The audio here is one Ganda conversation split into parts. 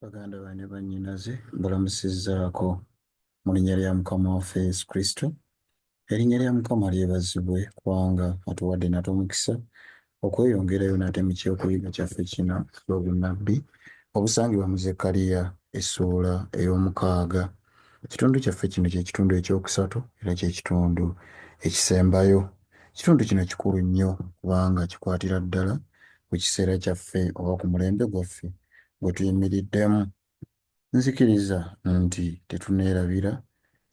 baganda bane bannyinaze mbalamusizzaako mu linnya lya mukama waffe yesu kristo erinnya lya mukama lyebazibwe kubanga atuwadde nate omukisa okweyongerayo nate mu kyokuyiga kyaffe kino lwobunnabbi obusangibwa mu zekkaliya essuula ey'omukaaga Ekitundu kyaffe kino kye kitundu eky'okusatu era kye kitundu ekisembayo. Ekitundu kino kikulu nnyo kubanga kikwatira ddala ku kiseera kyaffe oba ku mulembe gwaffe gwe tuyimiriddemu. Nzikiriza nti tetuneerabira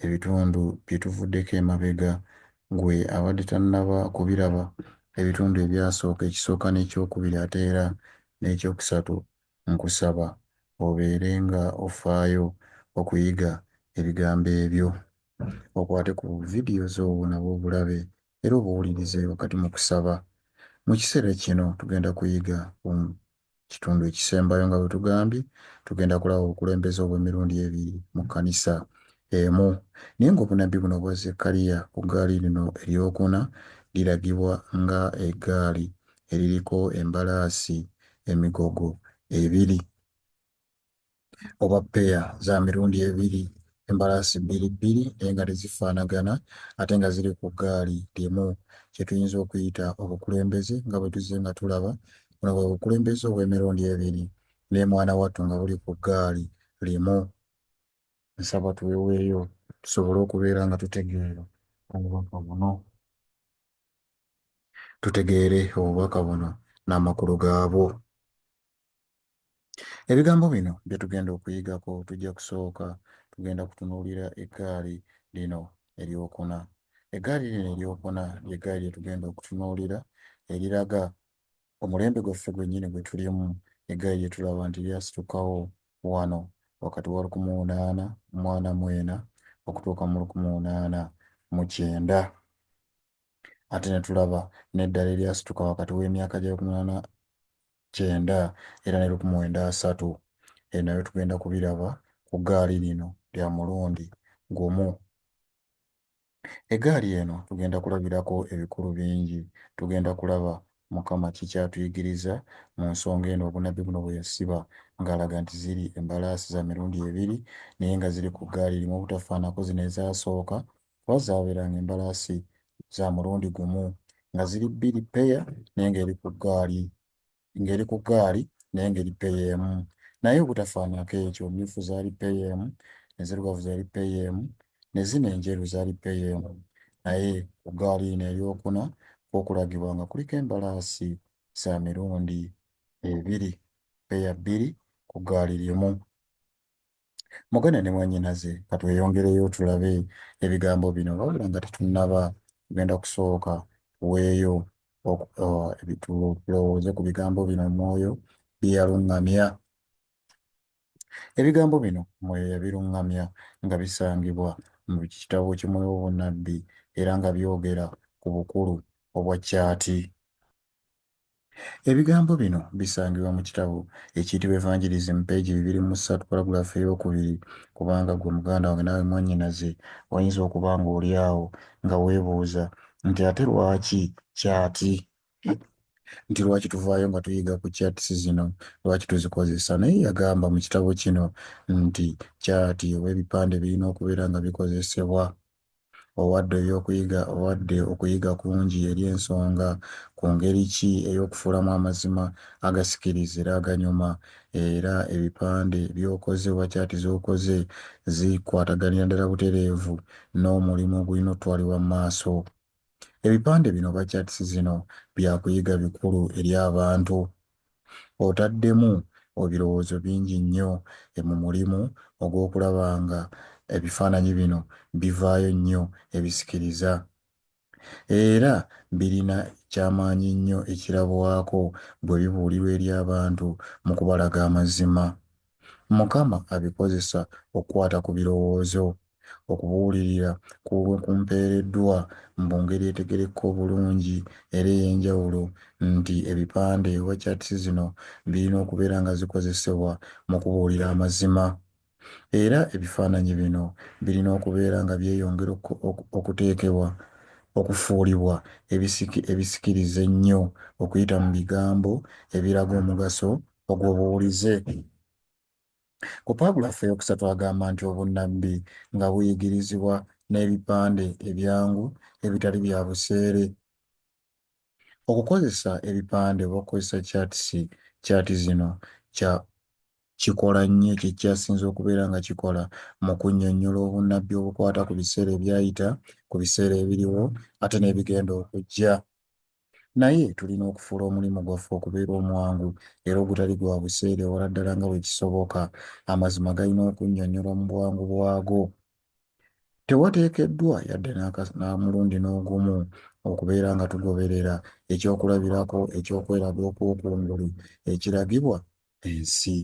ebitundu bye tuvuddeko emabega. Ggwe abadde tannaba kubiraba, ebitundu ebyasooka, ekisooka n'ekyokubiri ate era n'ekyokusatu Nkusaba obeere nga ofaayo okuyiga ebigambo ebyo. Okwate ku vidiyo zo nabo obulabe era obuwulirize wakati mu kusaba. Mu kiseera kino tugenda kuyiga ku kitundu ekisembayo nga bwe tugambye, tugenda kulaba obukulembeze obw'emirundi ebiri mu kkanisa emu. Naye nga obunnabbi buno obwa Zekkaliya ku ggaali lino ery'okuna liragibwa nga eggaali eririko embalaasi emigogo ebiri oba peya za mirundi ebiri embalaasi bbiri bbiri naye nga tezifaanagana ate nga ziri ku ggaali limu kye tuyinza okuyita obukulembeze nga bwe tuzze nga tulaba buno bwe bukulembeze obw'emirundi ebiri ne mwana wattu nga buli ku ggaali limu nsaba tuweweeyo tusobole okubeera nga tutegeera obubaka buno tutegeere obubaka buno n'amakulu gaabwo. Ebigambo bino bye tugenda okuyigako tujja kusooka tugenda kutunuulira eggaali lino eryokuna. Eggaali lino eryokuna ly'eggaali lye tugenda okutunuulira eriraga omulembe gwaffe gwennyini gwe tulimu, eggaali lye tulaba nti lyasitukawo wano wakati wa lukumi unaana mwana mwena okutuuka mu lukumi unaana mu kyenda ate ne tulaba n'eddala eryasituka wakati w'emyaka gya lukumi unaana kyenda era ne lukumi wenda asatu e nayo tugenda kubiraba ku gaali lino lya mulundi gumu Egaali eno tugenda kulabirako ebikulu bingi. Tugenda kulaba Mukama ki ky'atuyigiriza mu nsonga eno, obunnabbi buno bwe yasiba ng'alaga nti ziri embalaasi za mirundi ebiri naye nga ziri ku ggaali limu obutafaanako zino ezaasooka kuba zaabeeranga embalaasi za mulundi gumu nga ziri bbiri, ppeya, naye ng'eri ku ggaali ng'eri ku ggaali naye ng'eri ppeeya emu naye obutafaanako ekyo mmyufu zaali ppeeya emu enzirugavu zaali ppeeya emu ne zino enjeru zaali ppeeya emu naye ku ggaali eno eryokuna kwokulagibwa nga kuliko embalaasi za mirundi ebiri ppeeya bbiri ku ggaali limu Muganda ne mwannyinaze ka tweyongereyo tulabe ebigambo bino wabula nga tetunnaba tugenda kusooka tuweeyo tulowooze ku bigambo bino omwoyo bye yaluŋŋamya ebigambo bino omwoyo yabiruŋŋamya nga bisangibwa mu kitabo kimwoyo obunnabbi era nga byogera ku bukulu obwa kyati Ebigambo bino bisangibwa mu kitabo ekiyitibwa Evangelism peegi bibiri mu ssatu paragulaafu ey'okubiri. Kubanga ggwe muganda wange naawe mwannyinaze, oyinza okuba ng'oli awo nga weebuuza nti, Ate lwaki kyati? Nti lwaki tuvaayo nga tuyiga ku kyatisi zino? Lwaki tuzikozesa? Naye yagamba mu kitabo kino nti kyati oba ebipande birina okubeera nga bikozesebwa. Owadde eby'okuyiga, owadde okuyiga kungi eri ensonga ku ngeri ki ey'okufuulamu amazima agasikiriza era aganyuma, era ebipande by'okoze oba kyati z'okoze zikwataganira ddala butereevu n'omulimu ogulina okutwalibwa mu maaso. Ebipande bino oba charts zino bya kuyiga bikulu eri abantu. Otaddemu obirowoozo bingi nnyo e mu mulimu ogw'okulaba nga ebifaananyi bino bivaayo nnyo ebisikiriza. Era birina kyamaanyi nnyo ekirabwako bwe bibuulirwa eri abantu mu kubalaga amazima. Mukama abikozesa okukwata ku birowoozo, okubuulirira kulwe kumpeereddwa mbu ngeri etegerekeka obulungi era ey'enjawulo nti ebipande oba charts zino birina okubeera nga zikozesebwa mu kubuulira amazima. Era ebifaananyi bino birina okubeera nga byeyongera okuteekebwa okufuulibwa ebisikiriza ennyo okuyita mu bigambo ebiraga omugaso ogwo buwulize. Ku paagula ffe eyokusatu agamba nti obunnabbi nga buyigirizibwa n'ebipande ebyangu ebitali bya buseere. Okukozesa ebipande oba okukozesa kyatisi kyati zino kya kikola nnyo kye kyasinze okubeera nga kikola mu kunnyonnyola obunnabbi obukwata ku biseera ebyayita, ku biseera ebiriwo, ate n'ebigenda okujja. Naye tulina okufuula omulimu gwaffe okubeera omwangu era ogutali gwa buseere ewala ddala nga bwe kisoboka. Amazima galina okunnyonnyolwa mu bwangu bwago. Tewateekeddwa yadde n'amulundi n'ogumu okubeera nga tugoberera ekyokulabirako eky'okweraga okw'okungulu ekiragibwa ensi.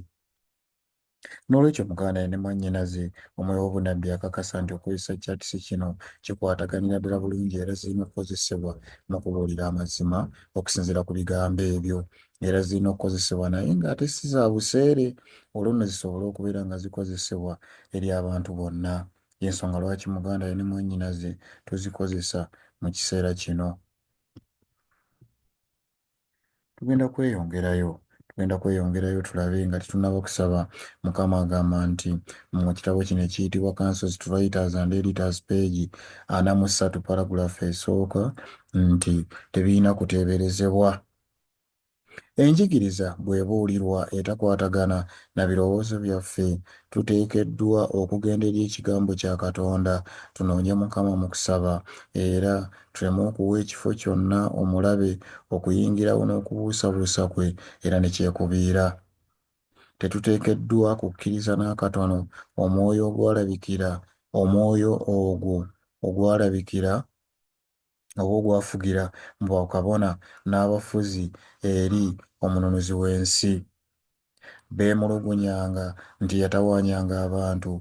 N'olwekyo, Muganda ne mwannyinaze, omwoyo w'obunnabbi akakasa nti okukozesa kyatisi kino kikwataganira ddala bulungi era zirina okukozesebwa mu kubuulira amazima okusinziira ku bigambo ebyo. Era zirina okukozesebwa naye nga ate si za buseere olwo nno zisobole okubeera nga zikozesebwa eri abantu bonna. Y'ensonga lwaki muganda we ne mwannyinaze tuzikozesa mu kiseera kino. tugenda kweyongerayo tugenda kweyongerayo tulabe nga tetunaba okusaba mukama agamba nti mu kitabo kino ekiyitibwa councils to writers and editors page ana mu ssatu paragulafu esooka nti tebirina kuteeberezebwa enjigiriza bwebuulirwa etakwatagana na birowoozo byaffe tuteekeddwa okugenda eri ekigambo kya katonda tunoonye mukama mu kusaba era Tuleme okuwa ekifo kyonna omulabe okuyingirawo n'okubuusabuusa kwe era ne kyekubiira. Tetuteekeddwa kukkiriza n'akatono omwoyo ogwalabikira, omwoyo ogwo ogwalabikira oba ogwafugira mu bakabona n'abafuzi eri omununuzi w'ensi. beemulugunyanga nti yatawaanyanga abantu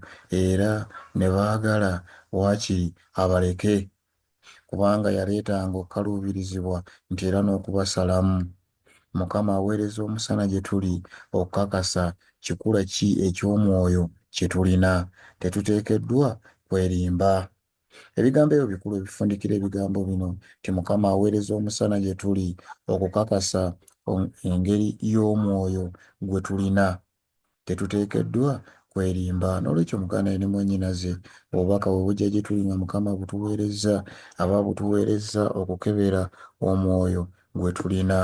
era ne baagala waakiri abaleke kubanga yaleetanga okukaluubirizibwa nti era n'okubasalamu. Mukama aweereza omusana gye tuli okukakasa kikula ki eky'omwoyo kye tulina. Tetuteekeddwa kwerimba. Ebigambo ebyo bikulu ebifundikira ebigambo bino nti Mukama aweereza omusana gye tuli okukakasa engeri y'omwoyo gwe tulina. Tetuteekeddwa kwerimba. N'olwekyo mugaana ye ne mwannyinaze, obubaka bwe bujja gye tuli nga Mukama abutuweerezza. Aba abutuweerezza okukebera omwoyo gwe tulina.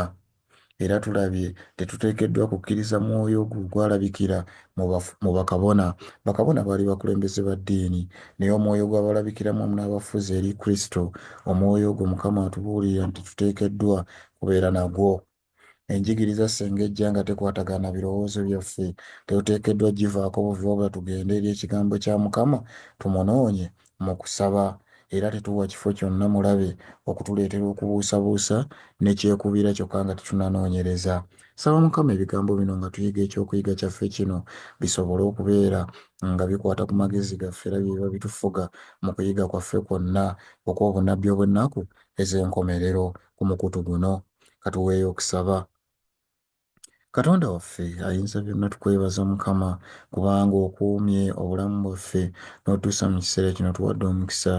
Era tulabye, tetuteekeddwa kukkiriza mwoyo ogwo ogwalabikira mu bakabona. Bakabona baali bakulembeze ba ddiini, naye omwoyo ogwabalabikiramu wamu n'abafuzi eri Kristo, omwoyo ogwo Mukama atubuulirira nti tuteekeddwa kubeera nagwo. Enjigiriza ssenga ejja nga tekwatagana na birowoozo byaffe, tetuteekeddwa givaako buvi wabula tugende eri Ekigambo kya Mukama, tumunoonye, mu kusaba era tetuwa kifo kyonna mulabe okutuleetera okubuusabuusa ne kyekubiira kyokka nga tetunanoonyereza. Nsaba Mukama ebigambo bino nga tuyiga eky'okuyiga kyaffe kino bisobole okubeera nga bikwata ku magezi gaffe era bye biba bitufuga mu kuyiga kwaffe kwonna okw'obunnabbi obw'ennaku ez'enkomerero ku mukutu guno. Ka tuweeyo okusaba. Katonda waffe ayinza byonna tukwebaza mukama kubanga okuumye obulamu bwaffe n'otuusa mu kiseera kino tuwadde omukisa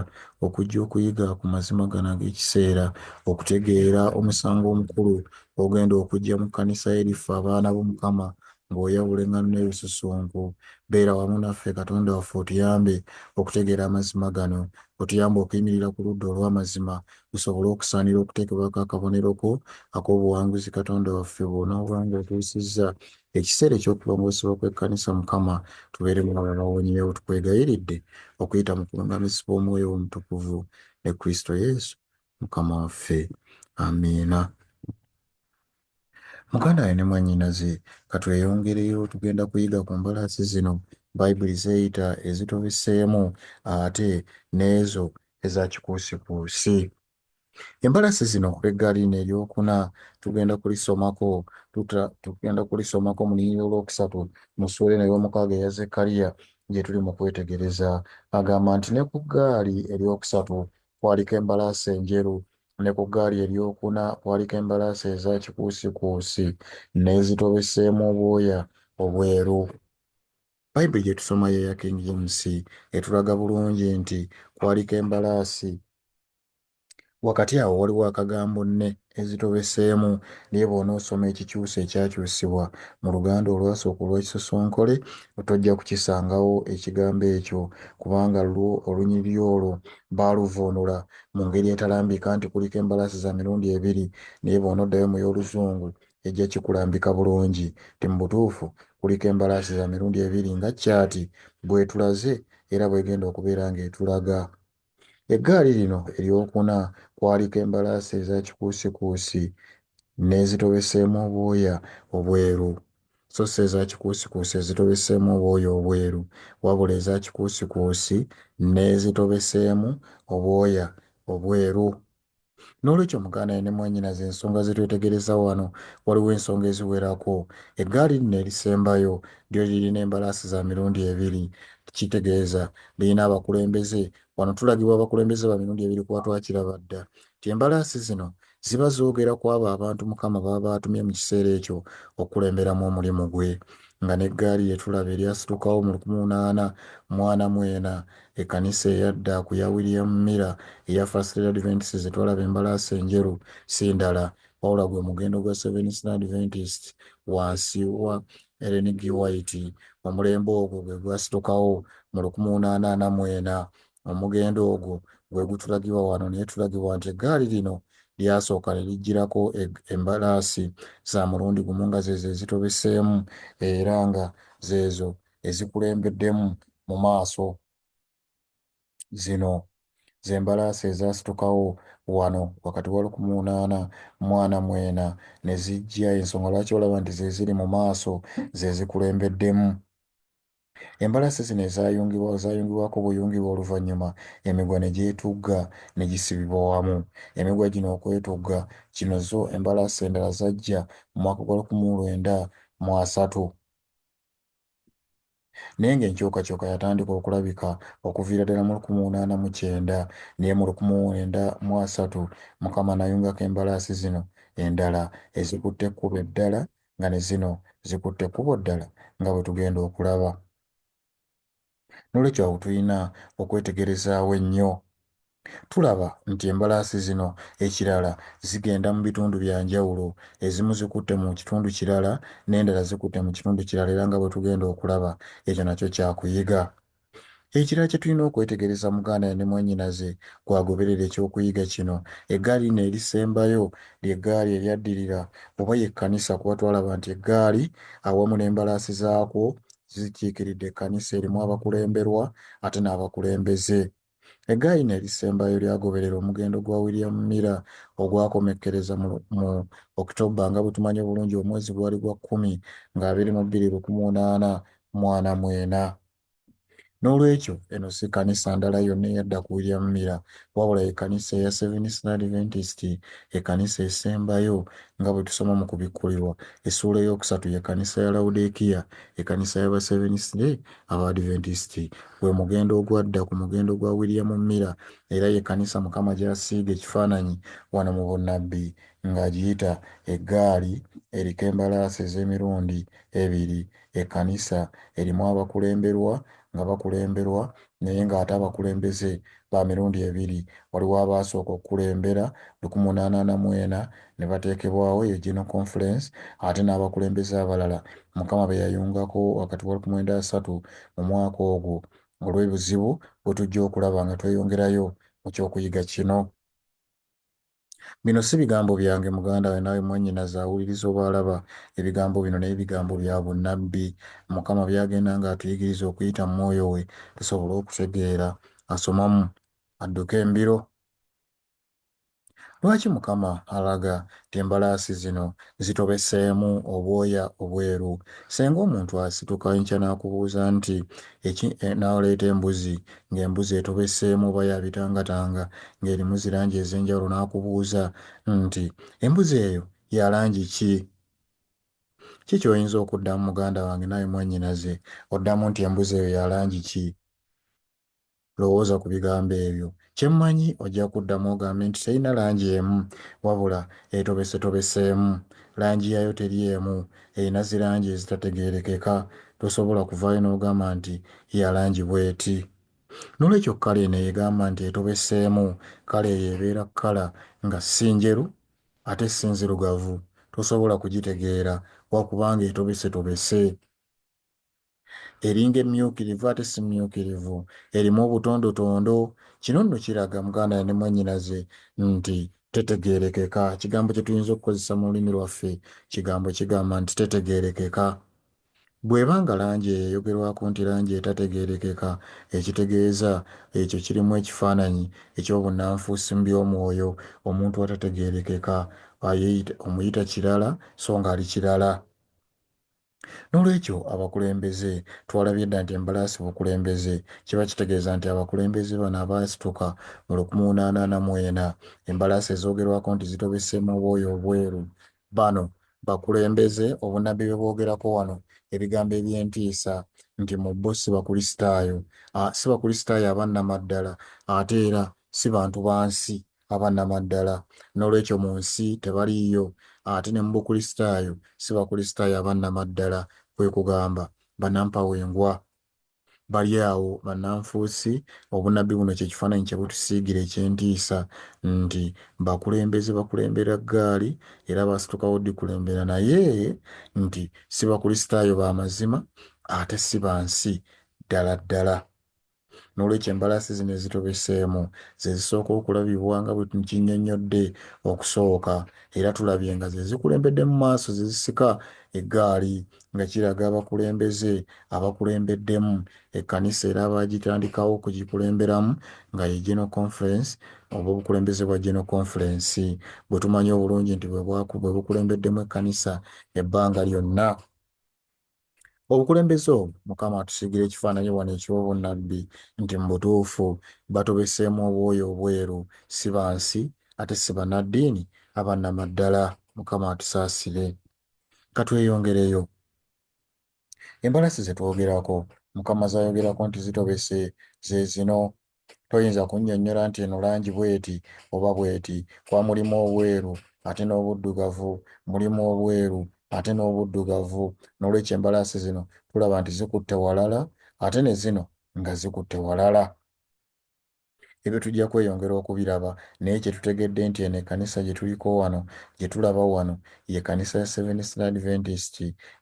okujja okuyiga ku mazima gano ag'ekiseera okutegeera omusango omukulu ogenda okujja mu kkanisa eriffe abaana bo mukama ng'oyawula eŋŋano n'ebisusunku beera wamu naffe katonda waffe otuyambe okutegeera amazima gano otuyambe okuyimirira ku ludda olw'amazima gusobole okusaanira okuteekebwako akabonero ko ak'obuwanguzi Katonda waffe bw'onooba ng'otuusizza ekiseera eky'okulongoosebwa kw'ekkanisa Mukama tubeere mu abo abawonyeewo tukwegayiridde okuyita mu kulungamizibwa omwoyo omutukuvu ne Kristo Yesu Mukama waffe. Amiina. Muganda wange ne mwannyinaze, ka tweyongereyo. Tugenda kuyiga ku mbalaasi zino Bayibuli z'eyita ezitubiseemu ate n'ezo eza kikuusikuusi. Embalaasi zino eggali n'eryokuna tugenda kulisomako tuta, tugenda kulisomako mu linnya olwokusatu mu ssuula eno ey'omukaaga eya Zekkaliya gye tuli mu kwetegereza. Agamba nti ne ku ggaali eryokusatu Kwaliko embalaasi enjeru, ne ku ggaali eryokuna kwaliko embalaasi eza kikuusikuusi n'ezitobeseemu obwoya obweru. Bayibuli gye tusoma y'eya King James etulaga bulungi nti kwaliko embalaasi. Wakati awo waliwo akagambo ne ezitobeseemu naye bw'onoosoma ekikyusa ekyakyusibwa mu Luganda olwasooka olw'ekisosonkole tojja kukisangawo ekigambo ekyo kubanga lwo olunyiriri olwo baaluvvuunula mu ngeri etalambika nti kuliko embalasi za mirundi ebiri naye bw'onoddayo mu y'Oluzungu ejja kikulambika bulungi nti mu butuufu kuliko embalaasi za mirundi ebiri nga kyaati bw'etulaze era bw'egenda okubeera ng'etulaga. Eggaali lino ery'okuna kwaliko embalaasi eza kikuusikuusi n'ezitobeseemu obwoya obweru, so si eza kikuusikuusi ezitobeseemu obwoya obweru, wabula eza kikuusikuusi n'ezitobeseemu obwoya obweru. N'olwekyo muganda ne mwannyinaze ensonga ze twetegereza wano, waliwo ensonga eziwerako. Eggaali lino erisembayo lyo lirina embalaasi za mirundi ebiri. Kitegeeza, lirina abakulembeze. Wano tulagibwa abakulembeze ba mirundi ebiri ku batwakiraba dda, nti embalaasi zino ziba zoogera ku abo abantu Mukama b'aba atumye mu kiseera ekyo okukulemberamu omulimu gwe. Nga n'eggaali lye tulaba eryasitukawo mu lukmu ana mu ana mu ena Ekkanisa eyadda ku ya William Miller eya First Day Adventists ze twalaba embalaasi enjeru si ndala wabula gwe mugendo gwa Seventh Day Adventists wansi wa Ellen G. White. Omulembe ogwo gwe gwasitukawo mu lukumi unaana ana mu ena. Omugendo ogwo gwe gutulagibwa wano, naye tulagibwa nti eggaali lino lyasooka ne lijjirako embalaasi za mulundi gumu nga zeezo ezitobeseemu era nga zeezo ezikulembeddemu mu maaso zino z'embalaasi ezaasitukawo wano wakati wa lukumi munaana mu ana mu ena ne zijja ensonga lwaki olaba nti ze ziri mu maaso ze zikulembeddemu embalaasi zino ezayungibwa zayungibwako buyungibwa oluvannyuma emigwa ne gyetugga ne gisibibwa wamu emigwa gino okwetugga kino zo embalaasi endala zajja mu mwaka gwa lukumi lwenda mu asatu naye ng'enkyukakyuka yatandika okulabika okuviira ddala mu lukumi munaana mu kyenda naye mu lukumi mwenda mu asatu Mukama nayungako embalaasi zino endala ezikutte ekkubo eddala nga ne zino zikutte ekkubo ddala nga bwe tugenda okulaba. N'olwekyo awo tulina okwetegerezaawo ennyo. Tulaba nti embalaasi zino ekirala zigenda mu bitundu bya njawulo, ezimu zikutte mu kitundu kirala n'endala zikutte mu kitundu kirala era nga bwe tugenda okulaba, ekyo nakyo kya kuyiga. Ekirala kye tulina okwetegereza muganda ne mwannyinaze gw'agoberera eky'okuyiga kino, eggaali lino erisembayo ly'eggaali eryaddirira oba y'ekkanisa kuba twalaba nti eggaali awamu n'embalaasi zaakwo zikiikiridde ekkanisa erimu abakulemberwa ate n'abakulembeze. Eggaayina erisembayo lyagoberera omugendo gwa William Miller ogwakomekkereza mu, mu October nga bwe tumanyi obulungi omwezi gwali gwa kkumi nga abiri mu bbiri lukmu onaana mu ana mu ena. N'olwekyo, eno si kkanisa ndala yonna eyadda ku William Miller, wabula ye kkanisa eya Seventh-day Adventist, ekkanisa esembayo, nga bwe tusoma mu Kubikkulirwa, essuula ey'okusatu, ye kkanisa ya Lawodiikiya, ekkanisa y'Abaseventh-day Abadventist. Gwe mugendo ogwadda ku mugendo gwa William Miller, era ye kkanisa Mukama gy'asiiga ekifaananyi wano mu bunnabbi, nga agiyita eggaali eriko embalaasi ez'emirundi ebiri. ekanisa erimu abakulemberwa nga bakulemberwa naye nga ate abakulembeze ba mirundi ebiri, waliwo abaasooka okukulembera lukumi mu naana ana mu ena ne bateekebwawo eyo General Conference ate n'abakulembeze abalala Mukama be yayungako wakati wa lukumi lwenda asatu mu mwaka ogwo olw'ebuzibu bwe tujja okulaba nga tweyongerayo mu ky'okuyiga kino. Bino si bigambo byange, muganda we naawe mwannyinaze awuliriza oba alaba ebigambo bino, naye bigambo bya bunnabbi, Mukama by'agenda ng'atuyigiriza okuyita mu Mwoyo we, tusobole okutegeera. Asomamu, adduka embiro. Lwaki Mukama alaga nti embalaasi zino zitobeseemu obwoya obweru? Ssenga omuntu asituka enkya n'akubuuza nti, Eki, eh, n'aleeta embuzi, ng'embuzi etobeseemu oba ya bitangatanga ng'erimu zi langi ez'enjawulo n'akubuuza nti, Embuzi eyo ya langi ki? Ki ky'oyinza okuddamu muganda wange naawe mwannyinaze? Oddamu nti, Embuzi eyo ya langi ki? Lowooza ku bigambo ebyo. Kye mmanyi ojja kuddamu ogambe nti, Terina langi emu, wabula etobesetobeseemu. Langi yaayo teri emu. Erina zi langi ezitategeerekeka. Tosobola kuvaayo n'ogamba nti, Ya langi bw'eti. N'olwekyo, kkala eno eyegamba nti etobeseemu, kkala eyo ebeera kkala nga si njeru ate si nzirugavu. Tosobola kugitegeera, lwa kubanga etobesetobese. eringa emmyukirivu ate si mmyukirivu, erimu obutondotondo. Kino nno kiraga muganda ne mwannyinaze nti tetegeerekeka. Ekigambo kye tuyinza okukozesa mu lulimi lwaffe, kigambo kigamba nti tetegeerekeka. Bw'eba nga langi eyo eyogerwako nti langi etategeerekeka, ekitegeeza ekyo kirimu ekifaananyi eky'obunnanfuusi mu by'omwoyo, omuntu atategeerekeka, omuyita kirala so ng'ali kirala. N'olwekyo, abakulembeze, twalabye dda nti embalaasi bukulembeze. Kiba kitegeeza nti abakulembeze bano abaasituka mu lukmunaana ana mu ena, embalaasi ezoogerwako nti zitobeseemu obwoya obweru, bano bakulembeze. Obunnabbi bwe bwogerako wano, ebigambo eby'entiisa nti mu bo si Bakulisitaayo, a, si Bakulisitaayo aba nnamaddala, ate era si bantu ba nsi aba nnamaddala. N'olwekyo mu nsi tebaliiyo, ate ne mu Bukristaayo si Bakristaayo aba nnamaddala, kwe kugamba, bannampawengwa. Bali awo bannanfuusi. Obunnabbi buno kye kifaananyi kye butusiigira eky'entiisa, nti, Bakulembeze bakulembera ggaali, era baasitukawo ddi kulembera, naye nti, si Bakristaayo ba mazima, ate si ba nsi, ddala ddala. N'olwekyo embalaasi zino ezitobeseemu ze zisooka okulabibwa nga bwe nkinnyonnyodde okusooka era tulabye nga ze zikulembedde mu maaso ze zisika eggaali nga kiraga abakulembeze abakulembeddemu ekkanisa era abaagitandikawo okugikulemberamu nga ye General Conference oba obukulembeze bwa General Conference bwe tumanyi obulungi nti bwe bukulembeddemu ekkanisa ebbanga lyonna obukulembeze obwo mukama atusigira ekifaananyi wano eky'obunnabbi nti mu butuufu batobeseemu obwoya obweru si ba nsi ate si bannaddiini abannamaddala mukama atusaasire katweyongereyo embalasi ze twogerako mukama zayogerako nti zitobese ze zino Toyinza kunnyonnyola nti eno langi bw'eti oba bw'eti, kuba mulimu obweru ate n'obuddugavu, mulimu obweru ate n'obuddugavu. N'olwekyo embalaasi zino tulaba nti zikutte walala ate ne zino nga zikutte walala. Ebyo tujja kweyongera okubiraba, naye kye tutegedde nti eno ekkanisa gye tuliko wano, gye tulaba wano, ye kkanisa ya Seventh-day Adventist,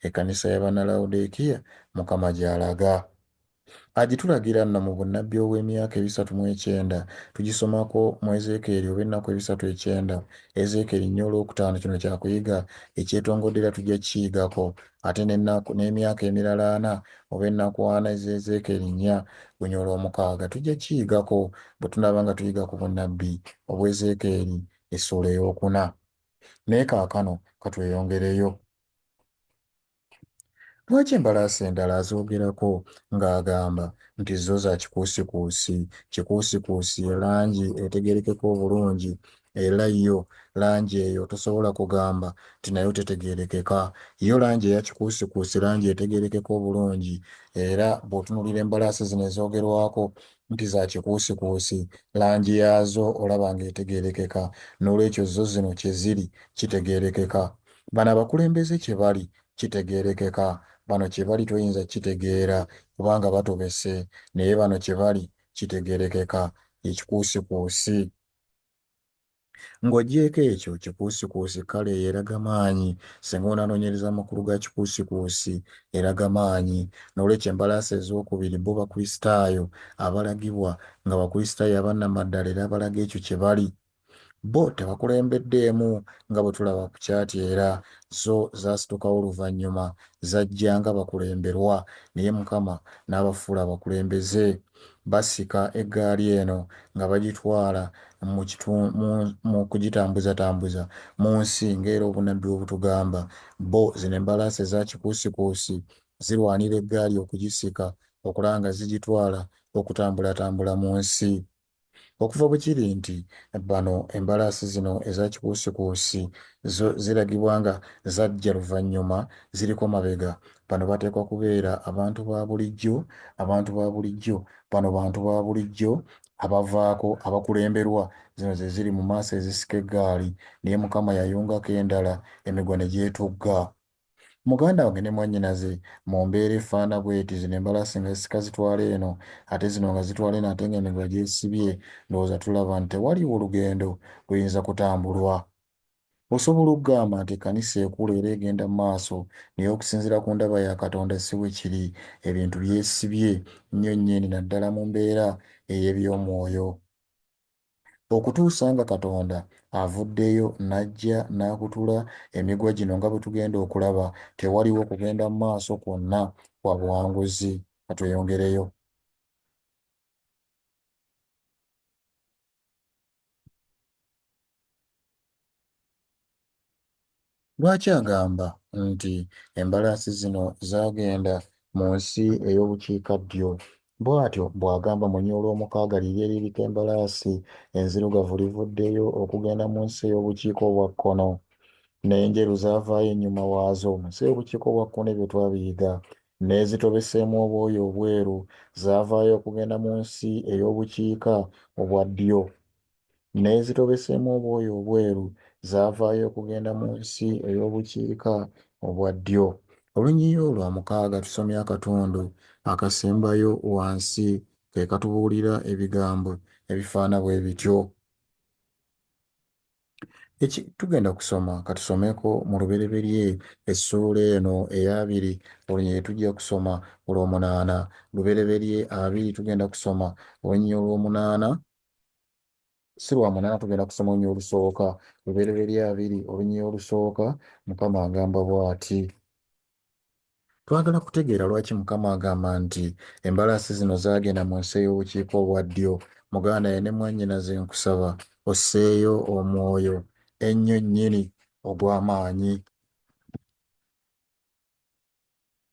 ekkanisa ya Bannalawodiikiya, Mukama gy'alaga. Agitulagira nno mu bunnabbi obw'emyaka ebisatu mu ekyenda. Tugisomako mu Ezeekeeri oba ennaku ebisatu ekyenda, Ezeekeeri nnya olwokutaano. Kino kya kuyiga ekyetongodde era tujja kukiyigako. Ate n'ennaku, n'emyaka emirala ana oba ennaku ana eza Ezeekeeri nnya gunya olwomukaaga tujja kukiyigako bwe tunaaba nga tuyiga ku bunnabbi obw'Ezeekeeri essuula ey'okuna. Naye kaakano ka tweyongereyo. Lwaki embalaasi endala azoogerako ng'agamba nti zo za kikuusikuusi? Kikuusikuusi ye langi etegeerekeka obulungi era yo langi eyo tosobola kugamba nti nayo tetegeerekeka. Yo langi eya kikuusikuusi langi etegeerekeka obulungi era bw'otunuulira embalaasi zino ezoogerwako nti za kikuusikuusi, langi yaazo olaba ng'etegeerekeka. Noolwekyo zo zino kye ziri kitegeerekeka. Bano abakulembeze kye bali kitegeerekeka, bano kye bali toyinza kukitegeera kubanga batobese naye bano kye bali kitegeerekeka, ye kikuusikuusi. Ng'oggyeeko ekyo, kikuusikuusi kkala eyo eraga maanyi, singa onaanoonyereza amakulu ga kikuusikuusi, eraga maanyi. N'olwekyo embalaasi ezookubiri bo Bakristaayo abalagibwa, nga Bakristaayo aba nnamaddala era abalaga ekyo kye bali. Bo tebakulembeddeemu nga bwe tulaba ku kyati era zo zaasitukawo luvannyuma. Zajja nga bakulemberwa, naye Mukama n'abafuula abakulembeze. Basika eggaali eno nga bagitwala mu kitu, mu, mu kugitambuzatambuza mu nsi, nga era obunnabbi bwe butugamba. Bo, zino embalaasi eza kikuusikuusi, zirwanira eggaali okugisika, okulaba nga zigitwala okutambulatambula mu nsi. Okuva bwe kiri nti bano embalaasi zino eza kikuusikuusi zo ziragibwa nga zajja luvannyuma, ziriko mabega. Bano bateekwa kubeera abantu ba bulijjo, abantu ba bulijjo. Bano bantu ba bulijjo abavaako, abakulemberwa. Zino ze ziri mu maaso ezisika eggaali. Naye Mukama yayungako endala, emigwa ne gyetugga. Muganda wange ne mwannyinaze mu mbeera efaana bweti, zino embalasi nga zisika zitwala eno ate zino nga zitwala eno ate nga emiguwa gyesibye, ndowooza tulaba nti tewaliwo lugendo luyinza kutambulwa. Osobola okugamba nti ekkanisa ekula era egenda mu maaso naye okusinziira ku ndaba ya Katonda si bwe kiri. Ebintu byesibye nnyo nnyini naddala mu mbeera ey'eby'omwoyo. okutuusa nga Katonda avuddeyo n'ajja n'akutula emigwa gino nga bwe tugenda okulaba, tewaliwo kugenda mu maaso kwonna kwa buwanguzi. Ka tweyongereyo. Lwaki agamba nti embalaasi zino zaagenda mu nsi ey'obukiikaddyo? Bw'atyo bw'agamba, Mu nyo olw'omukaaga liri eririko embalaasi enzirugavu livuddeyo okugenda mu nsi ey'obukiika obwa kkono, n'enjeru zaavaayo ennyuma waazo. Mu nsi ey'obukiika obwa kkono ebyo twabiyiga. N'ezitobeseemu obwoya obweru zaavaayo okugenda mu nsi ey'obukiika obwa ddyo. n'ezitobeseemu obwoya obweru zaavaayo okugenda mu nsi ey'obukiika obwa ddyo. Olunyiriri olwamukaaga tusomye akatundu akasembayo wansi ke katubuulira ebigambo ebifaana bwe bityo. Eki, tugenda kusoma katusomeko mu lubereberye essuula eno ey'abiri olunyiriri tujja kusoma olw'omunaana. Lubereberye abiri tugenda kusoma olunyiriri olw'omunaana si lwa munaana tugenda kusoma olunyiriri olusooka lubereberye abiri olunyiriri olusooka mukama agamba bw'ati twagala kutegeera lwaki mukama agamba nti embalaasi zino zaagenda mu nsi ey'obukiika obwa ddyo muganda ye ne mwannyinaze nkusaba osseeyo omwoyo ennyo nnyini ogw'amaanyi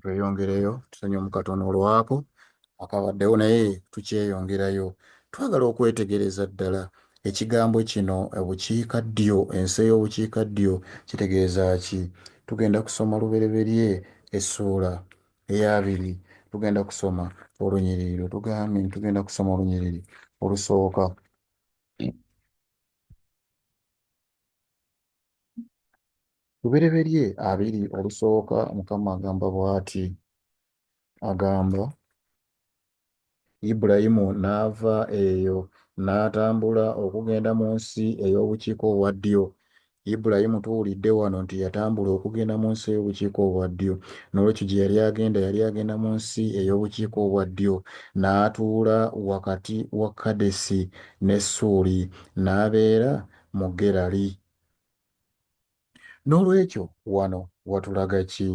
tweyongereyo tusonye omukatono olwako akabaddewo naye tukyeyongerayo twagala okwetegereza ddala ekigambo kino obukiika ddyo ensi ey'obukiika ddyo kitegeeza ki tugenda kusoma lubereberye essuula eyabiri tugenda kusoma olunyiriri lwe tugambye nti tugenda kusoma olunyiriri olusooka lubereberye abiri olusooka mukama agamba bw'ati agamba Ibulayimu n'ava eyo n'atambula okugenda mu nsi ey'obukiika obwa ddyo. Ibulayimu tuwulidde wano nti yatambula okugenda mu nsi ey'obukiika obwa ddyo. N'olwekyo gye yali agenda yali agenda mu nsi ey'obukiika obwa ddyo. N'atuula wakati wa Kadesi ne Suuli, n'abeera mu Gerali. N'olwekyo wano watulaga ki?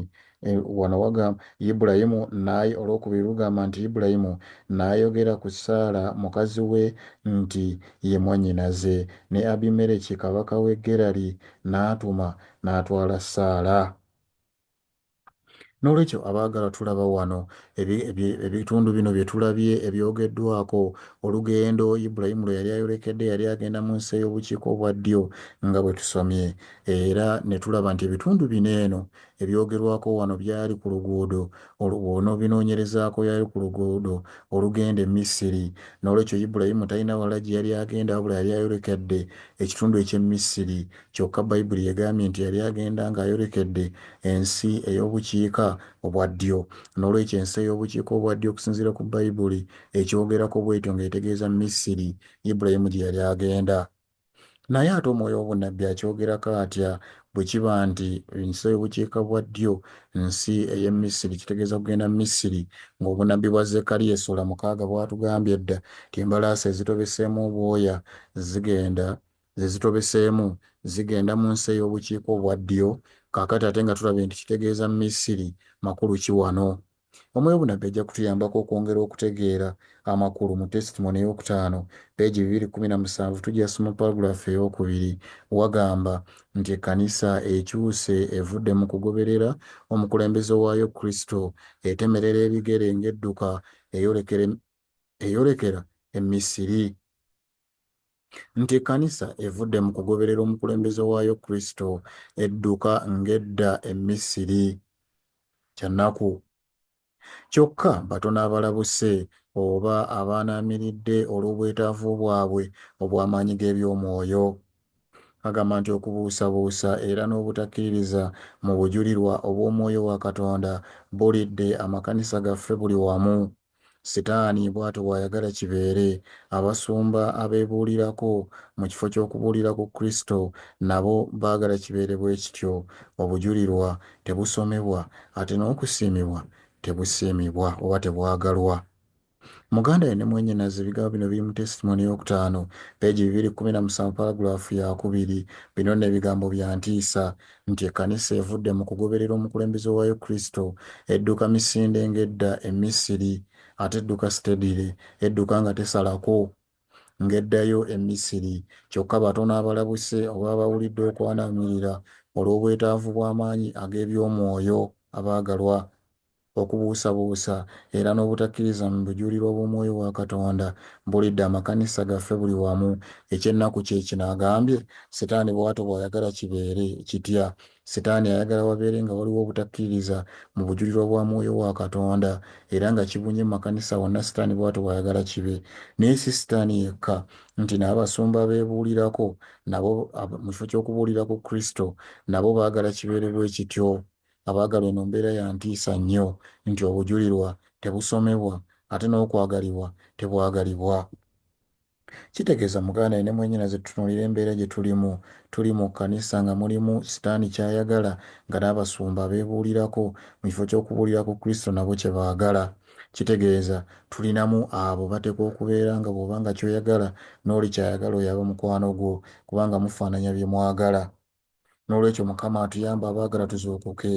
E, wano wagamba Ibulayimu naye olwokubiri lugamba nti Ibulayimu n'ayogera ku Saala mukazi we nti ye mwannyinaze, ne Abimereki kabaka w'e Gerali n'atuma n'atwala Saala. N'olwekyo, abaagalwa, tulaba wano ebitundu bino bye tulabye ebyogeddwako, olugendo Ibulayimu lwe yali ayolekedde, yali agenda mu nsi ey'obukiika obwa ddyo, nga bwe tusomye, era ne tulaba nti ebitundu bino eno ebyogerwako wano byali ku luguudo, bw'onoobinoonyerezaako, yali ku luguudo olugenda e Misiri. N'olwekyo, Ibulayimu talina walala gye yali agenda wabula yali ayolekedde ekitundu eky'e Misiri, Kyokka Baibuli egambye nti yali agenda ng'ayolekedde ensi ey'obukiika obwa ddyo. N'olwekyo, ensi ey'obukiika obwa ddyo okusinziira ku Baibuli ekyogerako bw'etyo ng'etegeeza Misiri, Ibulayimu gye yali agenda. Naye ate omwoyo w'obunnabbi akyogerako atya? Bwe kiba nti ensi ey'obukiika bwa ddyo nsi ey'e Misiri, kitegeeza kugenda Misiri, ng'obunnabbi bwa Zekkaliya essuula mukaaga bwatugambye edda nti embalaasi ezitobeseemu obwoya zigenda ze zitobeseemu zigenda mu nsi ey'obukiika obwa ddyo kaakati ate nga tulabye nti kitegeeza Misiri. Makulu ki wano? Omwoyo obunnabbi ajja kutuyambako okwongera okutegeera amakulu mu Testimony ey'okutaano, peegi bibiri kkumi na musanvu. Tugyas mu paragraph ey'okubiri. Wagamba nti ekkanisa ekyuse evudde mu kugoberera omukulembeze waayo Kristo, etemerera ebigere ng'edduka eyolekera e Misiri. nti ekkanisa evudde mu kugoberera omukulembeze waayo Kristo, edduka ng'edda e Misiri. Kya nnaku. Kyokka, batono abalabuse oba abaanaamiridde olw'obwetaavu bwabwe obw'amaanyi g'eby'omwoyo. Agamba nti okubuusabuusa era n'obutakkiririza mu bujulirwa obw'omwoyo wa Katonda bulidde amakanisa gaffe buli wamu. Sitaani bw'atyo bw'ayagala kibeere. Abasumba abeebuulirako mu kifo ky'okubuulira ku Kristo nabo baagala kibeere bwe kityo. Obujulirwa tebusomebwa, ate n'okusiimibwa tebusiimibwa oba tebwagalwa. Muganda we ne mwannyinaze, ebigambo bino biri mu Testimony ey'okutaano, peegi bibiri kkumi na musanvu, palagulaafu yaakubiri. Bino nno ebigambo bya ntiisa. nti ekkanisa evudde mu kugoberera omukulembeze waayo Kristo, edduka misinde ng'edda e Misiri, ate edduka sitedire, edduka nga tesalako, ng'eddayo e Misiri. Kyokka batono abalabuse oba abawulidde okwanaamirira olw'obwetaavu bw'amaanyi ag'eby'omwoyo, abaagalwa. okubuusabuusa era n'obutakkiriza mu bujulirwa bw'omwoyo wa Katonda bulidde amakanisa gaffe buli wamu. Eky'ennaku kye kino, agambye, Sitaani bw'atyo bw'ayagala kibeere. Kitya? Sitaani ayagala wabeere nga waliwo obutakkiririza mu bujulirwa bwa mwoyo wa Katonda, era nga kibunye mu makanisa wonna Sitaani bw'atyo bw'ayagala kibe. Naye si Sitaani yekka, nti n'abasumba abeebuulirako nabo, mu kifo ky'okubuulira ku Kristo, nabo baagala kibeere bwe kityo. Abaagalwa eno mbeera ya ntiisa nnyo nti obujulirwa tebusomebwa ate n'okwagalibwa tebwagalibwa. Kitegeeza muganda ye ne mwenyinaze tutunuulire embeera gye tulimu. Tuli mu kkanisa nga mulimu sitaani ky'ayagala nga n'abasumba abeebuulirako mu kifo ky'okubuulira ku Kristo nabo kye baagala. Kitegeeza tulinamu abo bateekwa okubeera nga bw'oba nga ky'oyagala n'oli ky'ayagala oyo aba mukwano gwo kubanga mufaananya bye mwagala. n'olwekyo mukama atuyamba abaagala tuzuukuke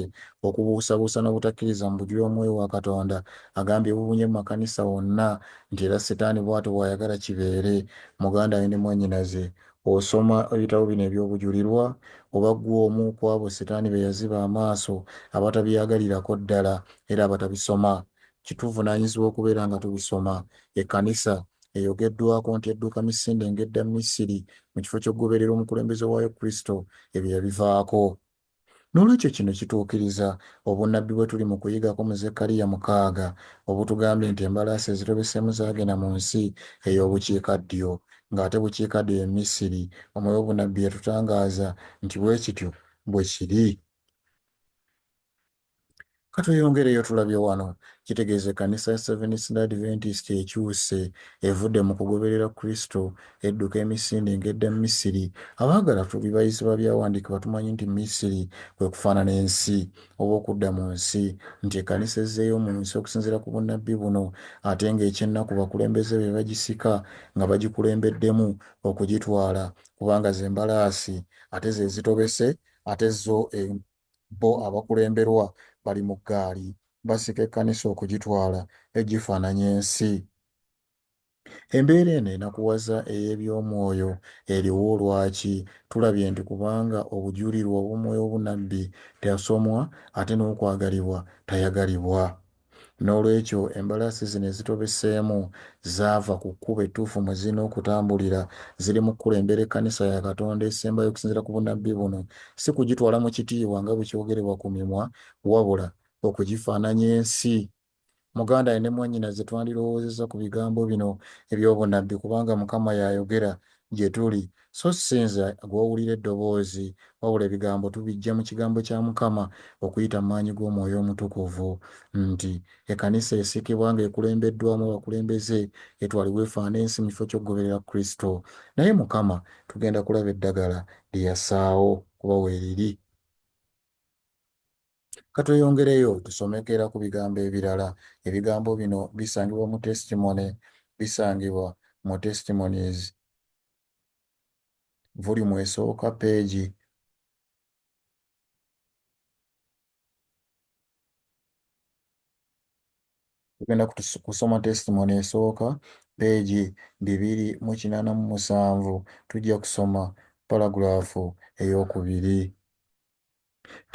okubuusabuusa n'obutakkiriza mu bujuli omwoyo wa katonda agambye bubunye mu makanisa wonna nti era setaani bw'atyo bw'ayagala kibeere muganda we ne mwannyinaze osoma ebitabo bino eby'obujulirwa oba ggwe omu ku abo setaani be yaziba amaaso abatabyagalirako ddala era abatabisoma Kituvunanyizibwa okubeera nga tubisoma. Ekkanisa eyogeddwako nti edduka misinde ng'edda Misiri mu kifo ky'okugoberera omukulembeze waayo Kristo, ebyo yabivaako. N'olwekyo kino kituukiriza obunnabbi bwe tuli mu kuyigako mu Zekkaliya mukaaga obutugambye nti embalaasi ezitobeseemu zaagenda mu nsi ey'obukiika ddyo, ng'ate bukiika ddyo ye Misiri. Omwoyo w'obunnabbi yatutangaaza nti bwe kityo bwe kiri. Katweyongereyo tulabye wano kitegeeza ekkanisa ya Seventh Day Adventist ekyuse evudde mu kugoberera Kristo edduka emisinde ng'edda Misiri. Abaagala tuli bayizi ba byawandiikibwa tumanyi nti Misiri kwe kufaanana ensi oba okudda mu nsi nti ekkanisa ezzeeyo mu nsi okusinziira ku bunnabbi buno ate ng'ekyennaku bakulembeze be bagisika nga bagikulembeddemu okugitwala kubanga ze mbalaasi ate ze zitobese ate zo bo abakulemberwa bali mu ggaali basika ekkanisa okugitwala egifaananya ensi. Embeera eno enakuwaza ey'eby'omwoyo eriwo lwaki? Tulabye nti kubanga obujulirwa obw'omwoyo obunabbi teasomwa ate n'okwagalibwa tayagalibwa. N'olwekyo, embalaasi zino ezitobeseemu zaava ku kkubo ettuufu mwe zirina okutambulira. Ziri mu kukulembera ekkanisa ya Katonda esembayo okusinziira ku bunnabbi buno, si kugitwala mu kitiibwa nga bwe kyogerebwa ku mimwa, wabula okugifaananya ensi. Muganda ne mwannyinaze, twandirowoozezza ku bigambo bino eby'obunnabbi, kubanga Mukama y'ayogera gye tuli, So si nze gw'owulira eddoboozi, wabula ebigambo tubiggya mu Kigambo kya Mukama okuyita mu maanyi g'Omwoyo Omutukuvu, nti, Ekkanisa esikibwa nga ekulembeddwamu abakulembeze, etwalibwe efaane ensi mu kifo ky'okugoberera Kristo. Naye, Mukama, tugenda kulaba eddagala lye yasaawo, kuba weeriri. Katweyongereyo tusomeko era ku bigambo ebirala. Ebigambo bino bisangibwa mu Testimony bisangibwa mu Testimonies volume esooka peegi tugenda kusoma testimony esooka peegi bibiri mu kinaana mu musanvu tujja kusoma paragraph ey'okubiri.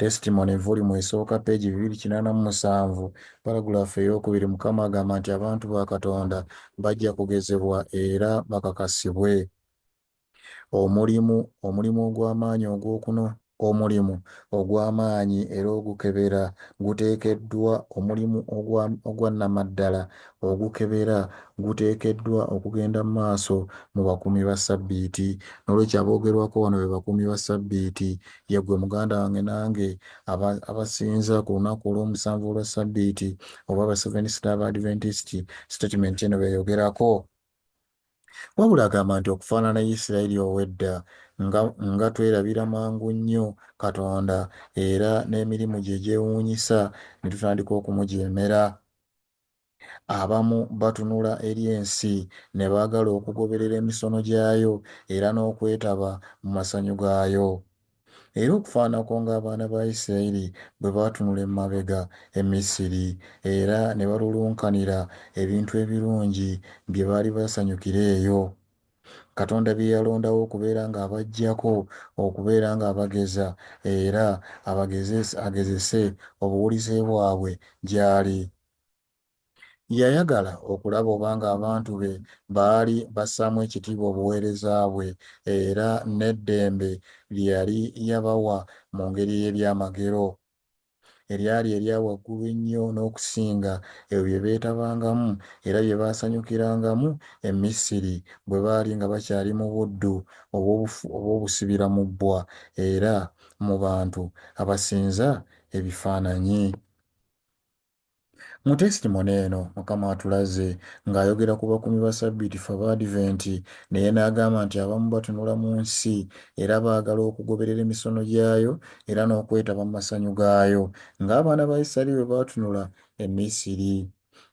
Testimony volume esooka peegi bibiri kinaana mu musanvu paragulaafu ey'okubiri Mukama agamba nti abantu ba Katonda bajja kugezebwa era bakakasibwe. Omulimu omulimu ogw'amaanyi ogw'okuno omulimu ogw'amaanyi era ogukebera guteekeddwa omulimu ogwa nnamaddala ogukebera guteekeddwa okugenda mu maaso mu bakuumi ba ssabbiiti. N'olwekyo aboogerwako wano be bakuumi ba ssabbiiti Yeggwe muganda wange nange aba, abasinza ku lunaku olw'omusanvu olwa Ssabbiiti, oba Abasevenisita Abaadiventisiti, sitatimenti eno b'eyogerako. Wabula agamba nti okufaanana Isiraeri ow'edda, nga, nga twerabira mangu nnyo Katonda era n'emirimu gye egyewuunyisa ne tutandika okumujeemera. Abamu batunula eri ensi ne baagala okugoberera emisono gyayo era n'okwetaba mu masanyu gaayo. Era okufaanako ng'abaana ba Isirayiri bwe baatunula emabega e Misiri era ne balulunkanira ebintu ebirungi bye baali basanyukira eyo, Katonda bye yalondawo okubeera ng'abaggyako, okubeera ng'abageza era abagezese, agezese obuwulize bwabwe gy'ali. Yayagala okulaba obanga abantu be baali bassaamu ekitiibwa obuweereza bwe era n'eddembe lye yali yabawa mu ngeri ey'ebyamagero, eryali erya waggulu ennyo n'okusinga ebyo bye beetabangamu era bye baasanyukirangamu e Misiri bwe baali nga bakyali mu buddu obw'obusibira mu bbwa era mu bantu abasinza ebifaananyi. Mu testimony eno, Mukama atulaze nga ayogera ku bakuumi ba Ssabbiiti ffe Abaadiventi naye n'agamba nti abamu batunula mu nsi era baagala okugoberera emisono gyayo era n'okwetaba mu masanyu gaayo nga abaana ba Isiraeri bwe baatunula e Misiri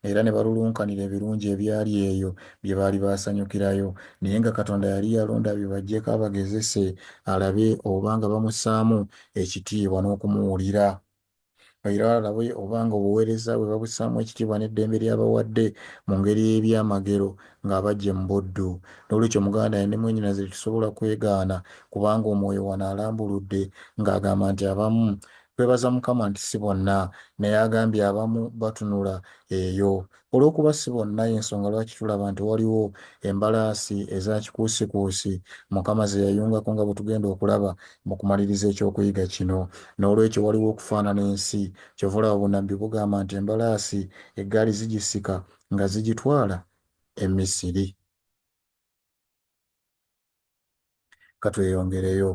era ne balulunkanira ebirungi ebyali eyo bye baali baasanyukirayo naye nga Katonda yali yalonda abibaggyeko abagezese alabe oba nga bamussaamu ekitiibwa n'okumuwulira. era alabe obanga obuweereza bwe babussaamu ekitiibwa n'eddembe ly'abawadde mu ngeri ey'ebyamagero ng'abaggye mu buddu. N'olwekyo, Omuganda ne mwannyinaze tetusobola kwegaana kubanga omwoyo wano alambuludde ng'agamba nti abamu twebaza Mukama nti si bonna naye agambye abamu batunula eyo Olw'okuba si bonna y'ensonga lwaki tulaba nti waliwo embalaasi eza kikuusikuusi Mukama ze yayungako nga bwe tugenda okulaba mu kumaliriza eky'okuyiga kino. N'olwekyo waliwo okufaanana ensi. Ky'ova olaba obunnabbi bugamba nti embalaasi eggaali zigisika nga zigitwala e Misiri. Ka tweyongereyo.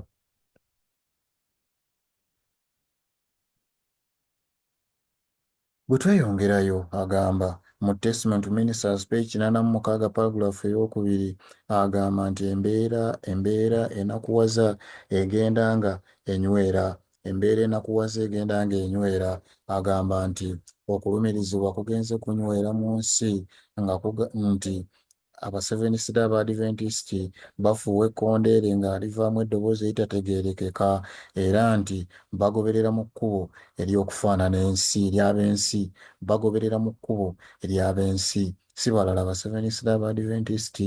Bwetweyongerayo, agamba, mu Testment to Ministers, page kinaana mu mukaaga paragulafu ey'okubiri, agamba nti embeera, embeera enakuwaza egenda nga enyweera, embeera enakuwaza egenda nga enyweera. Agamba nti okulumirizibwa kugenze kunyweera mu nsi nga kuga, nti Abasevenisida Abaadiventisiti bafuuwa ekkondeere nga livaamu eddoboozi eritategeerekeka era nti bagoberera mu kkubo ery'okufaanana ensi, ery'ab'ensi. Bagoberera mu kkubo ery'ab'ensi. Si balala Abasevenisida Abaadiventisiti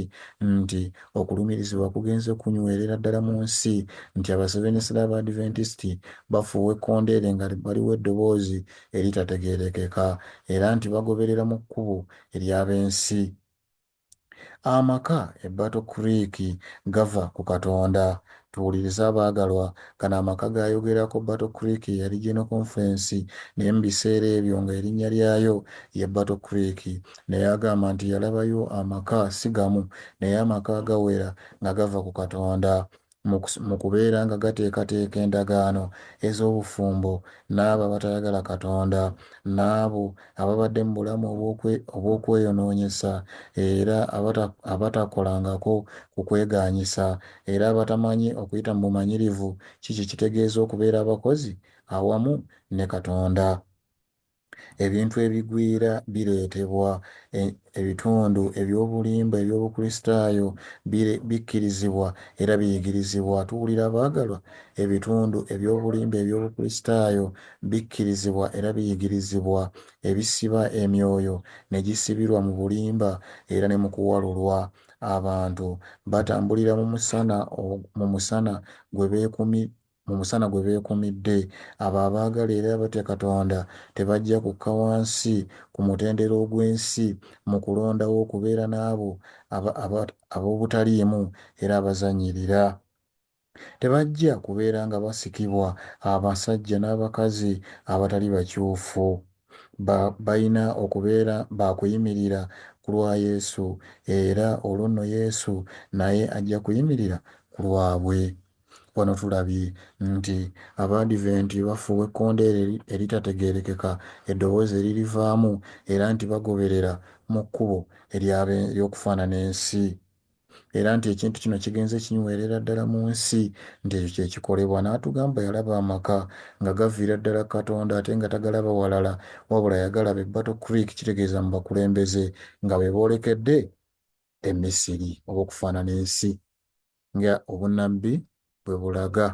nti okulumirizibwa kugenze kunywerera ddala mu nsi, nti Abasevenisida Abaadiventisiti bafuuwa ekkondeere nga baliwa eddoboozi eritategeerekeka era nti bagoberera mu kkubo ery'ab'ensi. Amaka e Battle Creek gava ku Katonda. Tuwulirize abaagalwa, gano amaka g'ayogerako Battle Creek ye yali General Conference, naye mu biseera ebyo nga erinnya lyayo ye Battle Creek. Naye agamba nti yalabayo amaka si gamu, naye amaka agawera nga gava ku Katonda. mu kubeeranga gateekateeka endagaano ez'obufumbo n'abo abatayagala Katonda, n'abo ababadde mu bulamu obw'okweyonoonyesa, era abatakolangako ku kwegaanyisa, era abatamanyi okuyita mu bumanyirivu ki kye kitegeeza okubeera abakozi awamu ne Katonda. Ebintu ebigwira bireetebwa. E, ebitundu eby'obulimba eby'Obukristaayo bire, bikkirizibwa era biyigirizibwa. Tuwulira, abaagalwa? Ebitundu eby'obulimba eby'Obukristaayo bikkirizibwa era biyigirizibwa, ebisiba emyoyo ne gisibirwa mu bulimba era ne mu kuwalulwa. Abantu batambulira mu musana, mu musana gwe beekumi, Mu musana gwe beekumidde, abo abaagala era abatya Katonda tebajja kukka wansi ku mutendera ogw'ensi mu kulondawo okubeera n'abo ab'obutaliimu era abazannyirira. Tebajja kubeera nga basikibwa abasajja n'abakazi abatali bakyufu. Ba, balina okubeera ba kuyimirira ku lwa Yesu, era olwo nno Yesu naye ajja kuyimirira ku lwabwe. Wano tulabye nti Abaadiventi bafuuwa ekkondeere eritategeerekeka eddoboozi eririvaamu era nti bagoberera mu kkubo ery'okufaanana ensi era nti ekintu kino kigenze kinywerera ddala mu nsi nti ekyo kye kikolebwa. N'atugamba yalaba amaka nga gaviira ddala ku Katonda ate nga tagalaba walala wabula yagalaba e Battle Creek kitegeeza mu bakulembeze nga be boolekedde e Misiri oba okufaanana ensi nga obunabbi bwe bulaga.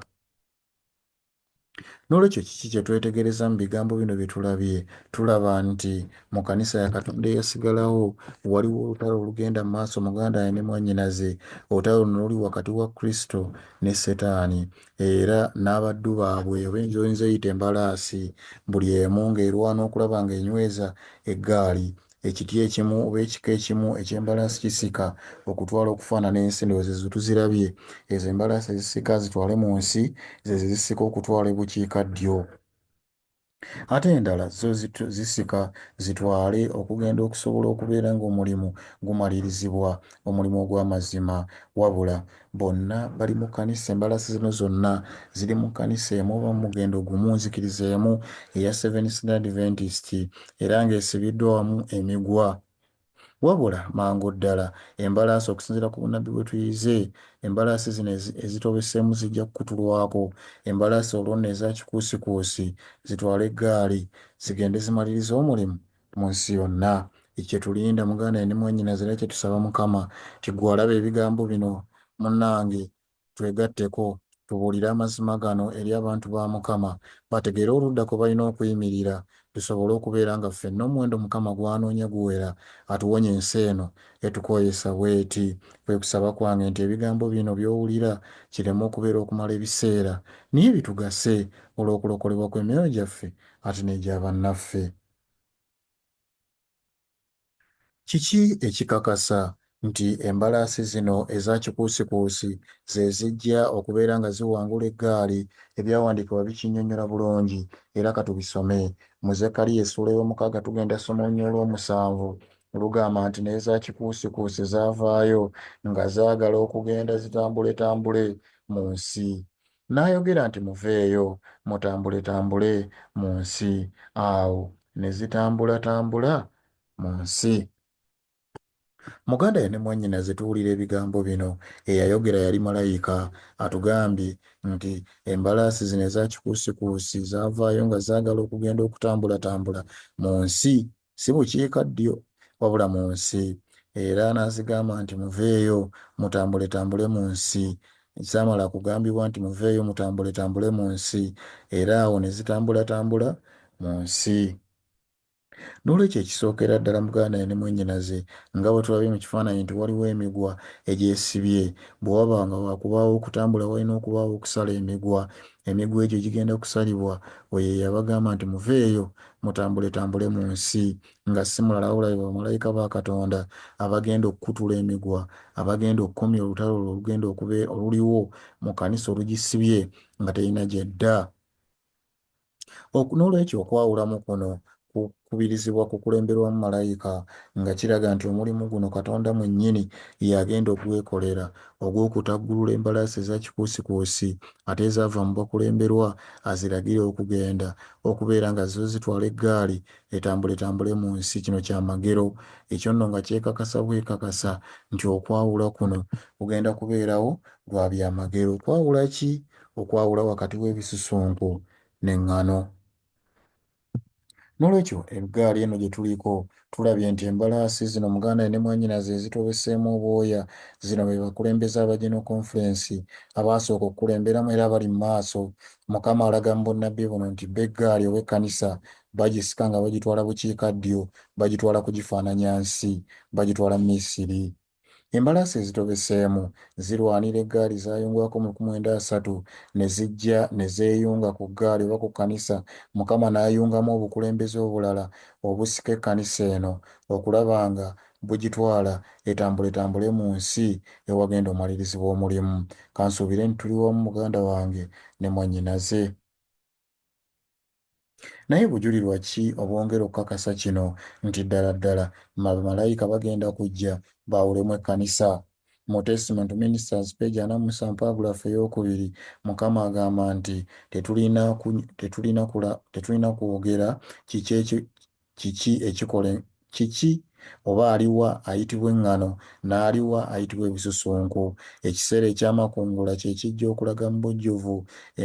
N'olwekyo kiki kye twetegereza mu bigambo bino bye tulabye? Tulaba nti mu kkanisa ya Katonda eyasigalawo waliwo olutalo olugenda mu maaso muganda ne mwannyinaze. Olutalo luno luli wakati wa Kristo ne Setaani era n'abaddu baabwe oba enjoyinza eyita embalaasi, buli emu ng'erwana okulaba ng'enyweza eggaali Ekiti ekimu oba ekika ekimu eky'embalaasi kisika okutwala okufaanana ensi. Ndowooza ezo tuzirabye. Ezo embalaasi ezisika zitwale mu nsi, zeezo ezisika okutwala ebukiika ddyo. Ate endala zo zisika zitwale okugenda okusobola okubeera ng'omulimu gumalirizibwa, omulimu ogw'amazima. Wabula, Bonna bali mu kkanisa, embalasi zino zonna ziri mu kkanisa emu oba mu mugendo gumu, nzikiriza emu, eya Seventh-day Adventist, era nga esibiddwa wamu emigwa. Wabula, mangu ddala, embalaasi, okusinziira ku bunnabbi bwe tuyize, embalaasi zino ezitobeseemu zijja kukutulwako, embalaasi olwo nno eza kikuusikuusi, zitwale eggaali, zigende zimalirize omulimu, mu nsi yonna. Kyetulinda muganda ne mwanyinaze era kyetusaba Mukama nti gwe alaba ebigambo bino munnange twegatteko tubuulire amazima gano eri abantu ba Mukama bategeere oludda kwe balina okuyimirira tusobole okubeera nga ffenna omuwendo Mukama gw'anoonya guwera atuwonye ensi eno etukooyesa bw'eti. Kwe kusaba kwange nti ebigambo bino by'owulira kireme okubeera okumala ebiseera naye bitugase olw'okulokolebwa kw'emyoyo gyaffe ate n'egya bannaffe. Kiki ekikakasa nti embalaasi zino eza kikuusikuusi ze zijja okubeera nga ziwangula eggaali? Ebyawandiikibwa bikinnyonnyola bulungi, era ka tubisome. Mu Zekkaliya essuula ey'omukaaga tugenda kusoma olunyiriri olw'omusanvu. Lugamba nti, Naye za kikuusikuusi zaavaayo nga zaagala okugenda zitambuletambule mu nsi. N'ayogera nti, Muveeyo, mutambuletambule mu nsi. Awo ne zitambulatambula mu nsi. Muganda ye ne mwannyinaze tuwulira ebigambo bino. Eyayogera yali malayika. Atugambye nti, Embalaasi zino eza kikuusikuusi zaavaayo nga zaagala okugenda okutambulatambula mu nsi si bukiika ddyo, wabula mu nsi, era n'azigamba nti, Muveeyo, mutambuletambule mu nsi. Zaamala kugambibwa nti, Muveeyo, mutambuletambule mu nsi, era awo ne zitambulatambula mu nsi. N'olwekyo ekisookera ddala muganda ye ne mwannyinaze, nga bwe tulabye mu kifaananyi nti waliwo emigwa egyesibye, bwe waba nga wa kubaawo okutambula walina okubaawo okusala emigwa. emigwa egyo gigenda kusalibwa oyo eyabagamba nti muveeyo mutambuletambule mu nsi nga si mulala wabula be bamalayika ba Katonda abagenda okukutula emigwa abagenda okukomya olutalo olwo olugenda okube oluliwo mu kanisa olugisibye nga terina gyedda. N'olwekyo okwawulamu kuno kukubirizibwa kukulemberwamu malayika, nga kiraga nti omulimu guno Katonda mwennyini y'agenda okugwekolera, ogw'okutaggulula embalaasi eza kikuusikuusi ate ezaava mu bakulemberwa aziragire okugenda, okubeera nga zo zitwala eggaali etambuletambule mu nsi. Kino kya magero. Ekyo nno nga kyekakasa bwekakasa nti okwawula kuno kugenda kubeerawo lwa bya magero. Kwawula ki? Okwawula wakati w'ebisusunku n'eŋŋano. N'olwekyo ebgaali eno gye tuliko, tulabye nti embalaasi zino Muganda ne mwanyinaze ezitobeseemu obwoya, zino be bakulembeze aba General Conference abaasooka okukulemberamu era abali mu maaso. Mukama alaga mu bunnabbi buno nti bo eggaali oba ekkanisa bagisika nga bagitwala bukiikaddyo, bagitwala kugifaananya nsi, bagitwala Misiri. Embalaasi ezitobeseemu zirwanira eggaali zaayungwako mu lukmu lwenda asatu ne zijja ne zeeyunga ku ggaali oba ku kkanisa Mukama n'ayungamu obukulembeze obulala obusika ekkanisa eno okulaba nga bugitwala etambule etambule mu nsi ewagenda omwalirizibwa omulimu. Kansuubire nti tuli wamu muganda wange ne mwannyinaze. Naye bujulirwa ki obwongera okukakasa kino nti ddala ddala bamalayika bagenda kujja baawulemu ekkanisa? Mu Testament to Ministers, peegi ana mu musanvu, paragraph ey'okubiri, Mukama agamba nti tetulina tetulina tetulina kwogera kiki Kiki ekikola en, kiki? Oba aliwa ayitibwa eŋŋano, n'aliwa ayitibwa ebisusunku. Ekiseera eky'amakungula kye kijja okulaga mu bujjuvu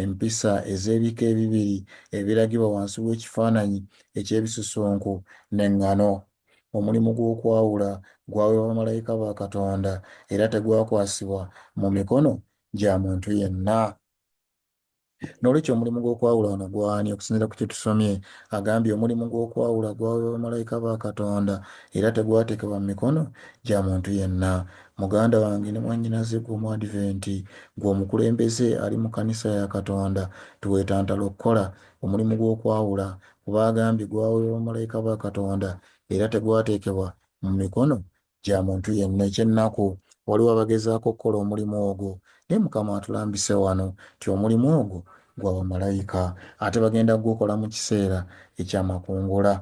empisa ez'ebika ebibiri ebiragibwa wansi w'ekifaananyi eky'ebisusunku n'eŋŋano. Omulimu gw'okwawula gwaweebwa bamalayika ba Katonda era tegwakwasibwa mu mikono gya muntu yenna. N'olwekyo omulimu gw'okwawula wano gw'ani? Okusinziira ku kye tusomye, agambye omulimu gw'okwawula gwaweebwa bamalayika ba Katonda era tegwateekebwa mu mikono gya muntu yenna. Muganda wange ne mwannyinaze ggwe Omwadiventi, ggwe omukulembeze ali mu kkanisa ya Katonda, teweetantala okukola omulimu gw'okwawula kuba agambye gwaweebwa bamalayika ba Katonda era tegwateekebwa mu mikono gya muntu yenna. Eky'ennaku, waliwo abagezaako okukola omulimu ogwo, naye Mukama atulambise wano nti omulimu ogwo gwa bamalayika, ate bagenda kugukola mu kiseera eky'amakungula.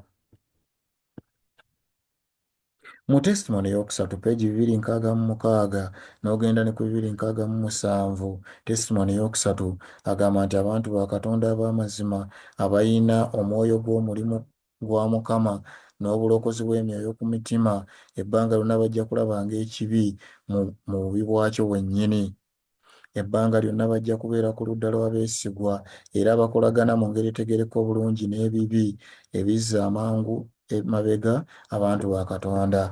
Mu Testimony ey'okusatu, peegi bibiri nkaaga mu mukaaga n'ogenda ne ku bibiri nkaaga mu musanvu, Testimony ey'okusatu agamba nti abantu ba Katonda ab'amazima abalina omwoyo gw'omulimu gwa Mukama, n'obulokozi bw'emyoyo ku mitima, ebbanga lyonna bajja kulabanga ekibi mu, mu bubi bwakyo bwennyini. Ebbanga lyonna bajja kubeera ku ludda lw'abeesigwa era abakolagana mu ngeri etegeerekeka obulungi n'ebibi ebizza amangu emabega abantu ba Katonda.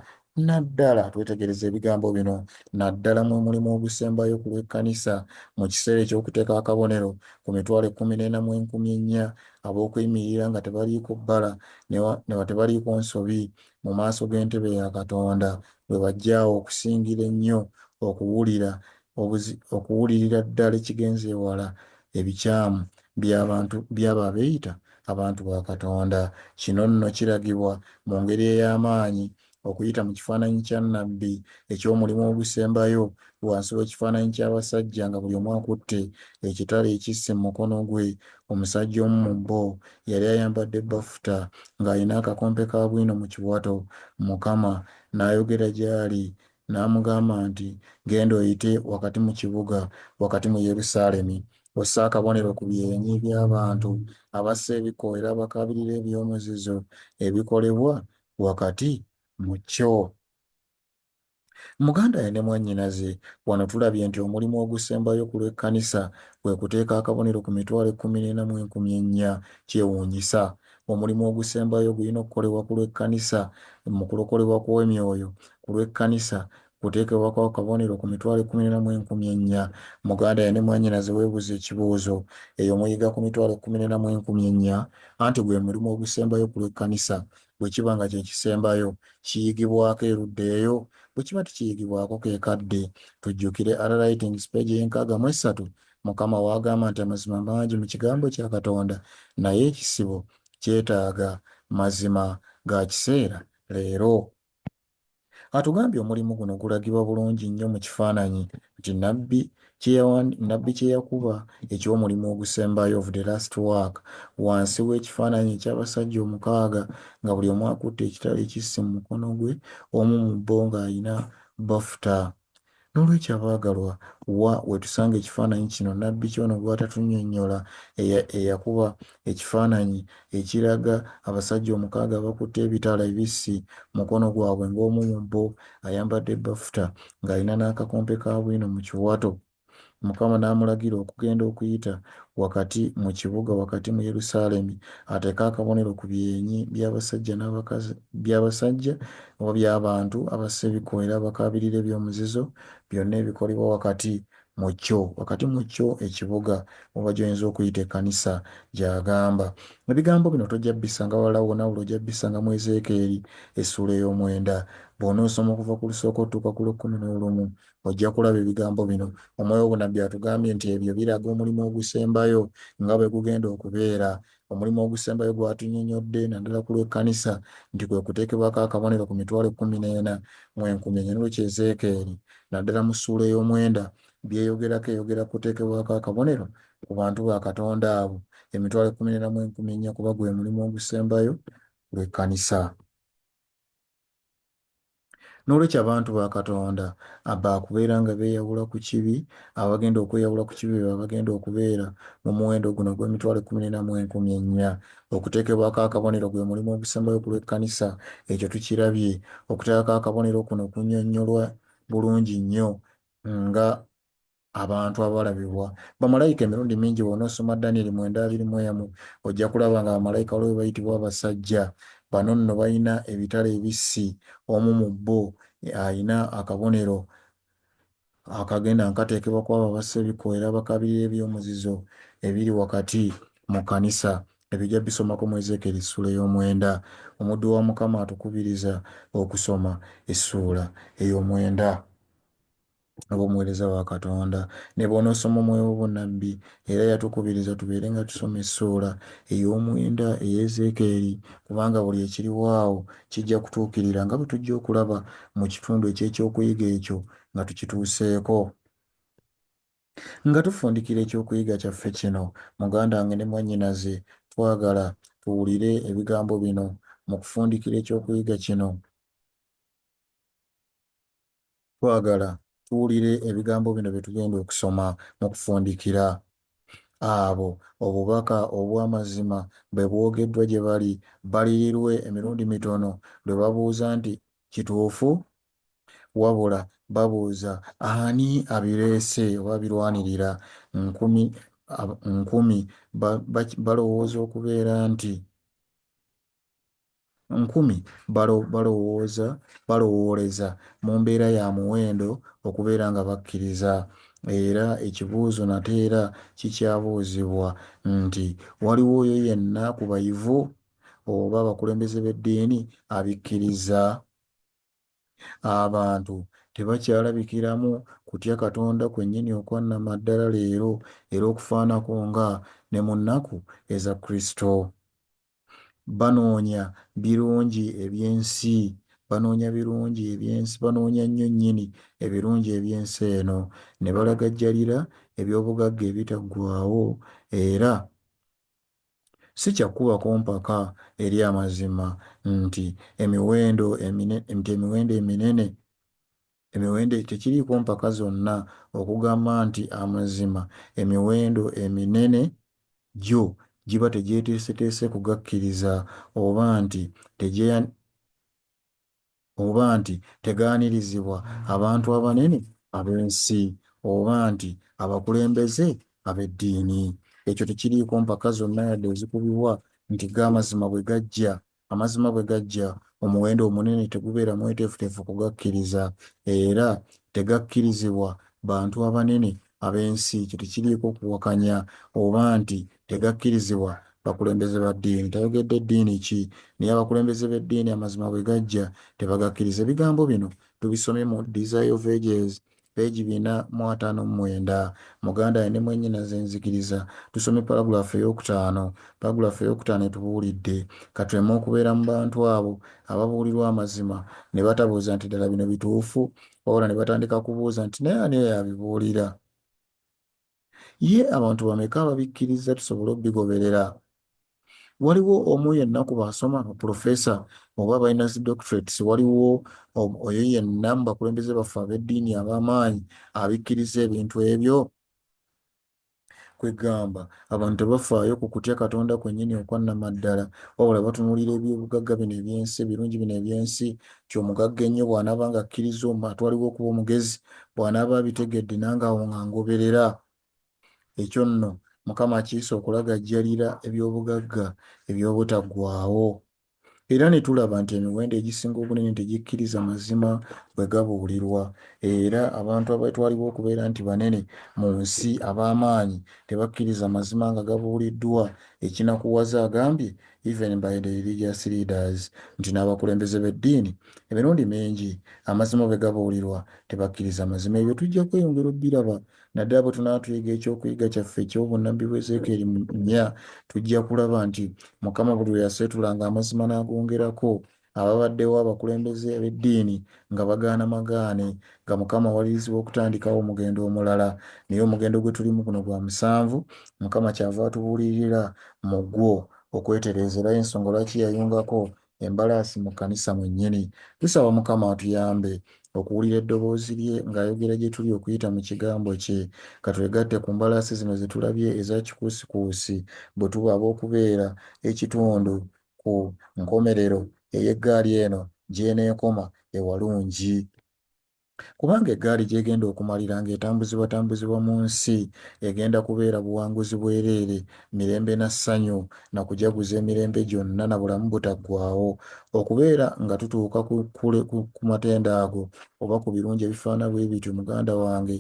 Naddala, twetegereze ebigambo bino, naddala mwe mulimu ogusembayo ku lw'ekkanisa, mu kiseera eky'okuteeka akabonero ku mitwalo ekkumi n'ena mu enkumi ennya ab'okuyimirira nga tebaliiko bbala ne wa tebaliiko nsobi mu maaso g'entebe ya Katonda, bwe bajja awo okusingira ennyo okuwulira obuzi okuwulirira ddala ekigenze ewala ebikyamu by'abantu by'abo abeeyita abantu ba Katonda. Kino nno kiragibwa mu ngeri ey'amaanyi okuyita mu kifaananyi kya nnabbi eky'omulimu ogusembayo wansi w'ekifaananyi ky'abasajja nga buli omu akutte ekitala ekissi mu mukono gwe. Omusajja omu mu bo yali ayambadde bbafuta ng'alina akakompe ka bwino mu kiwato. Mukama n'ayogera gy'ali N'amugamba nti, Genda oyite wakati mu kibuga, wakati mu Yerusaalemi, osse akabonero ku byenyi by'abantu abassa ebikkoolero abakaabirira eby'omuzizo ebikolebwa wakati mu kyo. Muganda we ne mwannyinaze, wano tulabye nti omulimu ogusembayo ku lw'ekkanisa kwe kuteeka akabonero ku mitwalo ekkumi n'ena mu enkumi ennya. Kyewuunyisa! Omulimu ogusembayo ogulina okukolebwa ku lw'ekkanisa mu kulokolebwa kw'emyoyo ku lw'ekkanisa kuteekebwa kwa kabonero ku mitwalo ekkumi n'ena mu enkumi ennya. Muganda ye ne mwannyinaze weebuuze ekibuuzo. Eyo muyiga ku mitwalo ekkumi n'ena mu enkumi ennya? Anti gwe mulimu ogusembayo ku lw'ekkanisa. Bwe kiba nga kye kisembayo, kiyigibwako erudda eyo? Bwe kiba tekiyigibwako, ke kadde tujjukire Ara Writings, page ey'enkaaga mu essatu, Mukama wo agamba nti amazima mangi mu kigambo kya Katonda naye ekisibo kyetaaga mazima ga kiseera leero. Atugambye omulimu guno gulagibwa bulungi nnyo mu kifaananyi nti Nabbi Nabbi kye yakuba eky'omulimu ogusembayo of the last work wansi w'ekifaananyi eky'abasajja omukaaga nga buli omu akutte ekitala ekissi mu mukono gwe omu mu bo ng'alina bafuta N'olwekyo abaagalwa, wa we tusanga ekifaananyi kino nnabbi Kyona gw'atatunyonnyola, eyakuba ekifaananyi ekiraga abasajja omukaaga abakutte ebitala ebissi mu mukono gwabwe ng'omu mu bo ayambadde bafuta ng'alina n'akakompe ka bwino mu kiwato? Mukama n'amulagira okugenda okuyita wakati mu kibuga, wakati mu Yerusaalemi, ateeke akabonero ku byenyi by'abasajja n'abakazi, by'abasajja oba by'abantu abassa ebikubo era abakaabirira eby'omuzizo, byonna ebikolebwa wakati mu kyo, wakati mu kyo, ekibuga, oba gy'oyinza okuyita ekkanisa, gy'agamba. Ebigambo bino tojja bisanga walala wonna wabula ojja bisanga mu Ezeekeeri, essuula ey'omwenda. Bw'onoosoma okuva ku lusooka otuuka ku lw'ekkumi n'olumu, Ojja kulaba ebigambo bino. Omwoyo w'obunabbi atugambye nti ebyo biraga omulimu ogusembayo nga bwe gugenda okubeera. Omulimu ogusembayo gw'atunyonyodde, naddala ku lw'ekkanisa, nti kwe kuteekebwako akabonero ku mitwalo ekkumi n'ena mu enkumi enya. N'olwekyo Ezeekeeri, naddala mu ssuula ey'omwenda, by'eyogerako eyogera ku kuteekebwako akabonero ku bantu ba Katonda abo, emitwalo ekkumi n'ena mu enkumi ennya, kuba gwe mulimu ogusembayo ku lw'ekkanisa. N'olwekyo abantu ba Katonda abaakubeera nga beeyawula ku kibi, abagenda okweyawula ku kibi be babagenda okubeera mu muwendo guno ogw'emitwalo ekkumi n'ena mu enkumi ennya. Okuteekebwako akabonero gwe mulimu ogusembayo ku lw'ekkanisa. Ekyo tukirabye. Okuteekako akabonero kuno kunyonyolwa bulungi nnyo nga abantu abalabibwa bamalayika emirundi mingi bw'onoosoma danyeri mwenda abiri mu emu ojja kulaba nga bamalayika waliwo be bayitibwa abasajja bano nno balina ebitala ebissi omu mu bo alina akabonero akagenda nga kateekebwa ku abo abassa ebikooera bakabirira eby'omuzizo ebiri wakati mu kkanisa ebyo ojja bisomako mu ezeekeri essuula ey'omwenda omuddu wa mukama atukubiriza okusoma essuula ey'omwenda oba omuweereza wa Katonda. Ne bw'onoosoma omwoyo w'obunnabbi, era yatukubiriza tubeere nga tusoma essuula ey'omwenda eya Ezeekeeri, kubanga buli ekiriwo awo kijja kutuukirira, nga bwe tujja okulaba mu kitundu eky'ekyokuyiga ekyo nga tukituuseeko. Nga tufundikira ekyokuyiga kyaffe kino, muganda wange ne mwannyinaze, twagala tuwulire ebigambo bino mu kufundikira ekyokuyiga kino. Twagala tuwulire ebigambo bino bye tugenda okusoma mu kufundikira abo obubaka obw'amazima bwe bwogeddwa gye bali, balirirwe emirundi mitono lwe babuuza nti, Kituufu? Wabula babuuza, Ani abireese oba abirwanirira? Nkumi, nkumi ba, ba, balowooza okubeera nti nkumi balo, balowooza, balowooleza mu mbeera ya muwendo okubeera nga bakkiriza. Era ekibuuzo nate era kikyabuuzibwa nti, Waliwo oyo yenna ku bayivu oba abakulembeze b'eddiini abikkiriza? Abantu tebakyalabikiramu kutya Katonda kwennyini okwa nnamaddala leero, era okufaanako nga ne mu nnaku eza Kristo. Banoonya birungi eby'ensi, banoonya birungi eby'ensi, banoonya nnyo nnyini ebirungi eby'ensi eno, ne balagajjalira eby'obugagga ebitaggwaawo, era si kya kukubako mpaka eri amazima nti emiwendo emine, nti emiwendo eminene Emiwendo tekiriiko mpaka zonna okugamba nti amazima emiwendo eminene gyo giba tegyeteeseteese kugakkiriza oba nti tegye oba nti tegaanirizibwa abantu abanene ab'ensi oba nti abakulembeze ab'eddiini. Ekyo tekiriiko mpaka zonna yadde ezikubibwa nti ga mazima bwe gajja Amazima bwe gajja, omuwendo omunene tegubeera mweteefuteefu kugakkiriza, era tegakkirizibwa bantu abanene ab'ensi. Ekyo tekiriiko kuwakanya oba nti tegakkirizibwa bakulembeze ba ddiini. Tayogedde ddiini ki, naye abakulembeze b'eddiini amazima bwe gajja tebagakkiriza. Ebigambo bino tubisomye mu Desire of Ages, peegi bina mu ataano mu mwenda. Muganda ne mwennyinaze nzikiriza. Tusomye paragraph ey'okutaano. Paragraph ey'okutaano etubuulidde, Ka tuleme okubeera mu bantu abo ababuulirwa amazima ne batabuuza nti, Ddala bino bituufu? Wabula ne batandika kubuuza nti, Naye ani oyo abibuulira? Ye abantu bameka ababikkirizza tusobole obigoberera? Waliwo omu yenna ku baasoma ba pulofeesa oba abalina zi doctorates, waliwo oyo yenna mu bakulembeze baffe ab'eddiini ab'amaanyi abikkiriza ebintu ebyo? Kwegamba, abantu tebafaayo ku kutya Katonda kwennyini okwa nnamaddala, wabula batunuulira eby'obugagga bino eby'ensi, ebirungi bino eby'ensi, nti omugagga ennyo bw'anaaba ng'akkirizza omu atwalibwa okuba omugezi, bw'anaaba abitegedde nange awo nga ngoberera. Ekyo nno Mukama akiyise okulagajjalira eby'obugagga eby'obutaggwaawo. Era ne tulaba nti emiwendo egisinga obunene tegikkiriza mazima bwe gabuulirwa, era abantu abeetwalibwa okubeera nti banene mu nsi, ab'amaanyi, tebakkiriza mazima nga gabuuliddwa. Ekinakuwaza agambye even by the religious leaders nti n'abakulembeze b'eddiini emirundi mingi amazima bwe gabuulirwa tebakkiriza mazima ebyo tujja kweyongera obbiraba naddala bwe tunaatuyiga ekyokuyiga kyaffe eky'obunnabbi bwa ezeekeeri nnya tujja kulaba nti mukama buli lwe yaseetulanga amazima n'agongerako ababaddewo abakulembeze ab'eddiini nga bagaana magaane nga Mukama awalirizi w'okutandikawo omugendo omulala naye omugendo gwe tulimu guno gwa musanvu Mukama kyava atubuulirira mu gwo okwetereeza era y'ensonga lwaki yayungako embalaasi mu kkanisa mwennyini. Tusaba Mukama atuyambe okuwulira eddoboozi lye ng'ayogera gye tuli okuyita mu kigambo kye. Ka twegatte ku mbalaasi zino ze tulabye eza kikuusikuusi bwe tuba ab'okubeera ekitundu ku nkomerero ey'eggaali eno gy'eneekoma e Walungi kubanga eggaali gy'egenda okumalira ng'etambuzibwatambuzibwa mu nsi egenda kubeera buwanguzi bwereere, mirembe na ssanyu na kujaguza emirembe gyonna na bulamu butaggwaawo. Okubeera nga tutuuka ku matendo ago oba ku birungi ebifaana bwe bityo muganda wange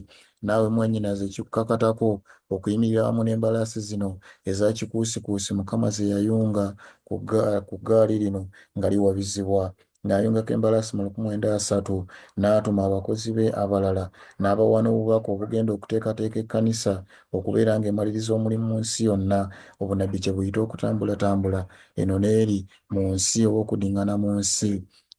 Naawe mwannyinaze kikukakatako okuyimirira wamu n'embalaasi zino eza kikuusikuusi Mukama ze yayunga ku ggaali lino nga liwabizibwa. N'ayungako embalaasi mu luku mwenda asatu, n'atuma abakozi be abalala, n'abawa n'obubaka obugenda okuteekateeka ekkanisa okubeera nga emaliriza omulimu mu nsi yonna, obunnabbi kye buyita okutambulatambula eno n'eri mu nsi oba okuddiŋŋana mu nsi.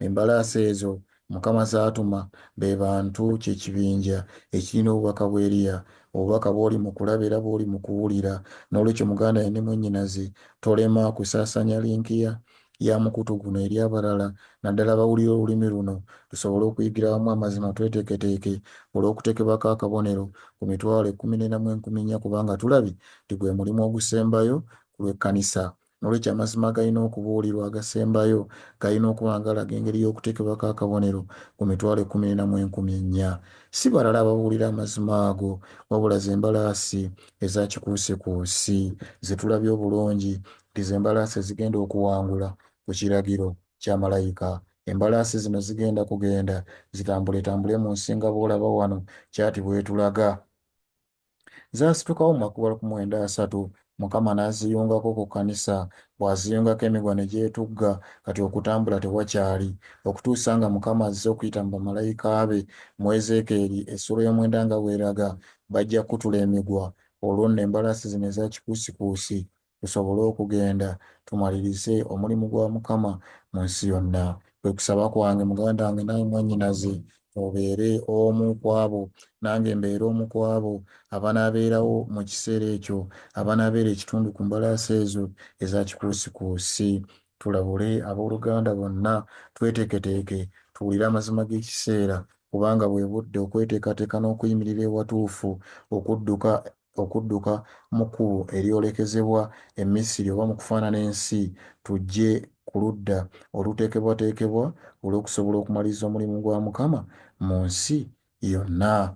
Embalaasi ezo Mukama z'atuma be bantu, kye kibinja ekirina obubaka bwa Eriya, obubaka bw'oli mu kulaba era bw'oli mu kuwulira. N'olwekyo, muganda yo ne mwannyinaze, tolema kusaasaanya linki ya, ya mukutu guno eri abalala, naddala abawulira olulimi luno, tusobole okuyigira wamu amazima. Tweteeketeeke olw'okuteekebwako akabonero ku mitwalo ekkumi n'ena mu enkumi nnya, kubanga tulabye nti gwe mulimu ogusembayo ku lw'ekkanisa. N'olwekyo, amazima agalina okubuulirwa agasembayo galina okuba nga galaga engeri y'okuteekebwako akabonero ku mitwalo ekkumi n'ena mu enkumi ennya. Si balala ababuulira amazima ago, wabula ze mbalaasi eza kikuusikuusi ze tulabye obulungi nti ze mbalaasi ezigenda okuwangula ku kiragiro kya malayika. Embalaasi zino zigenda kugenda zitambuletambule mu nsi nga bw'olaba wano kyati bw'etulaga. Zaasitukawo mu makubo ku mwenda asatu, Mukama n'aziyungako ku kkanisa, bw'aziyungako emigwa ne gyetugga, kati okutambula tewakyali, okutuusa nga Mukama azze okuyita mu bamalayika be, mu Ezeekeeri, essuula ey'omwenda nga bw'eraga, bajja kukutula emigwa, olwo nno embalaasi zino eza kikuusikuusi tusobole okugenda tumalirize omulimu gwa Mukama mu nsi yonna. Kwe kusaba kwange, muganda wange, naawe mwannyinaze, obeere omu ku abo, nange mbeere omu ku abo, abanaabeerawo mu kiseera ekyo, abanaabeera ekitundu ku mbalaasi ezo eza kikuusikuusi. Tulabule ab'oluganda bonna, tweteeketeeke, tuwulire amazima g'ekiseera, kubanga bwe budde okweteekateeka n'okuyimirira ewatuufu okudduka okudduka mu kkubo eryolekezebwa e Misiri oba mu kufaanana ensi, tujje ku ludda oluteekebwateekebwa olw'okusobola okumaliriza omulimu gwa Mukama mu nsi yonna.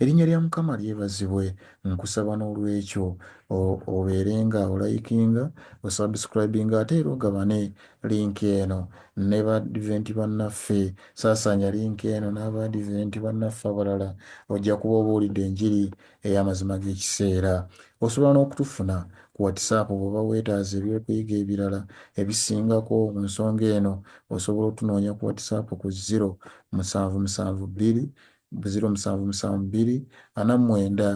Erinnya lya Mukama lyebazibwe, nkusaba n'olwekyo obeere nga olayikinga, osubscribinga ate era ogabane link eno ne Baadventi bannaffe. Saasaanya link eno n'Abaadventi bannaffe abalala, ojja kuba obuulidde enjiri. ey'amazima g'ekiseera. Osobola n'okutufuna ku WhatsApp bw'oba weetaaze eby'okuyiga ebirala ebisingako ku nsonga eno. Osobola otunoonya ku WhatsApp ku ziro musanvu musanvu bbiri ziro musanvu musanvu bbiri ana mu mwenda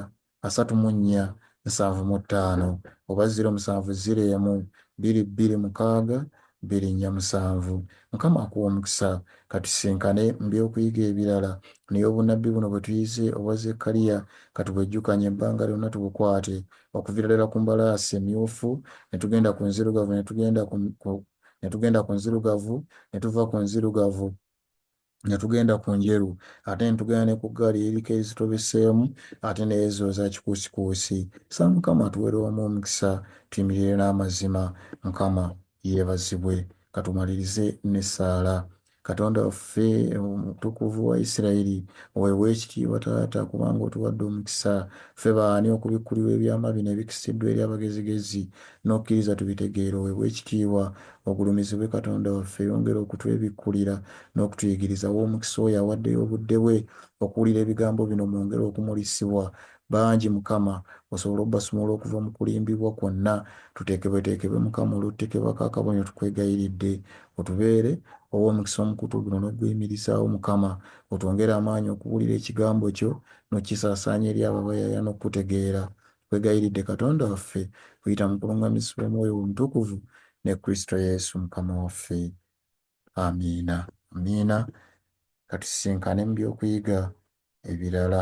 asatu mu nnya nsanvu mu ttaano oba ziro musanvu ziro emu bbiri bbiri mukaaga Birinya musanvu. Mukama akuwe omukisa. Katusisinkane mu by'okuyiga ebirala. Naye obunabbi buno bwe tuyize obwa Zekkaliya, katubwejjukanye ebbanga lyonna tubukwate, okuviira ddala ku mbalaasi emyufu, ne tugenda ku nzirugavu, ne tugenda ku, ku, ne tugenda ku nzirugavu, ne tuva ku nzirugavu. ne tugenda ku njeru ate ne tugenda ne ku ggaali eriko ezitobeseemu ate n'ezo eza kikuusikuusi sa mukama atuwere wamu omukisa tuyimirire n'amazima mukama yeebazibwe katumalirize n'essaala katonda waffe omutukuvu wa isirayiri oweebwa ekitiibwa taata kubanga otuwadde omukisa ffe baani okubikkulirwa ebyama bino ebikisiddwa eri abagezigezi n'okkiriza tubitegeere oweebwe ekitiibwa ogulumizibwe Katonda waffe yongera okutwebikkulira n'okutuyigiriza wa omukisa oyo awaddeyo obudde bwe okuwulira ebigambo bino mwongere okumulisibwa bangi Mukama osobole obbasumulula okuva mu kulimbibwa kwonna tuteekebweteekebwe Mukama olw'otutekeebwako akabonero tukwegayiridde otubeere owa omukisa omukutu guno n'okuguyimirizaawo Mukama otwongere amaanyi okubuulira ekigambo kyo n'okkisaasaanya eri abo abayaayana okukutegeera Tukwegayiridde, Katonda waffe, okuyita mu kulungamizibwa Omwoyo wo Omutukuvu, ne Kristo Yesu Mukama waffe. Amiina. Amiina. Ka tusisinkane mu by'okuyiga ebirala.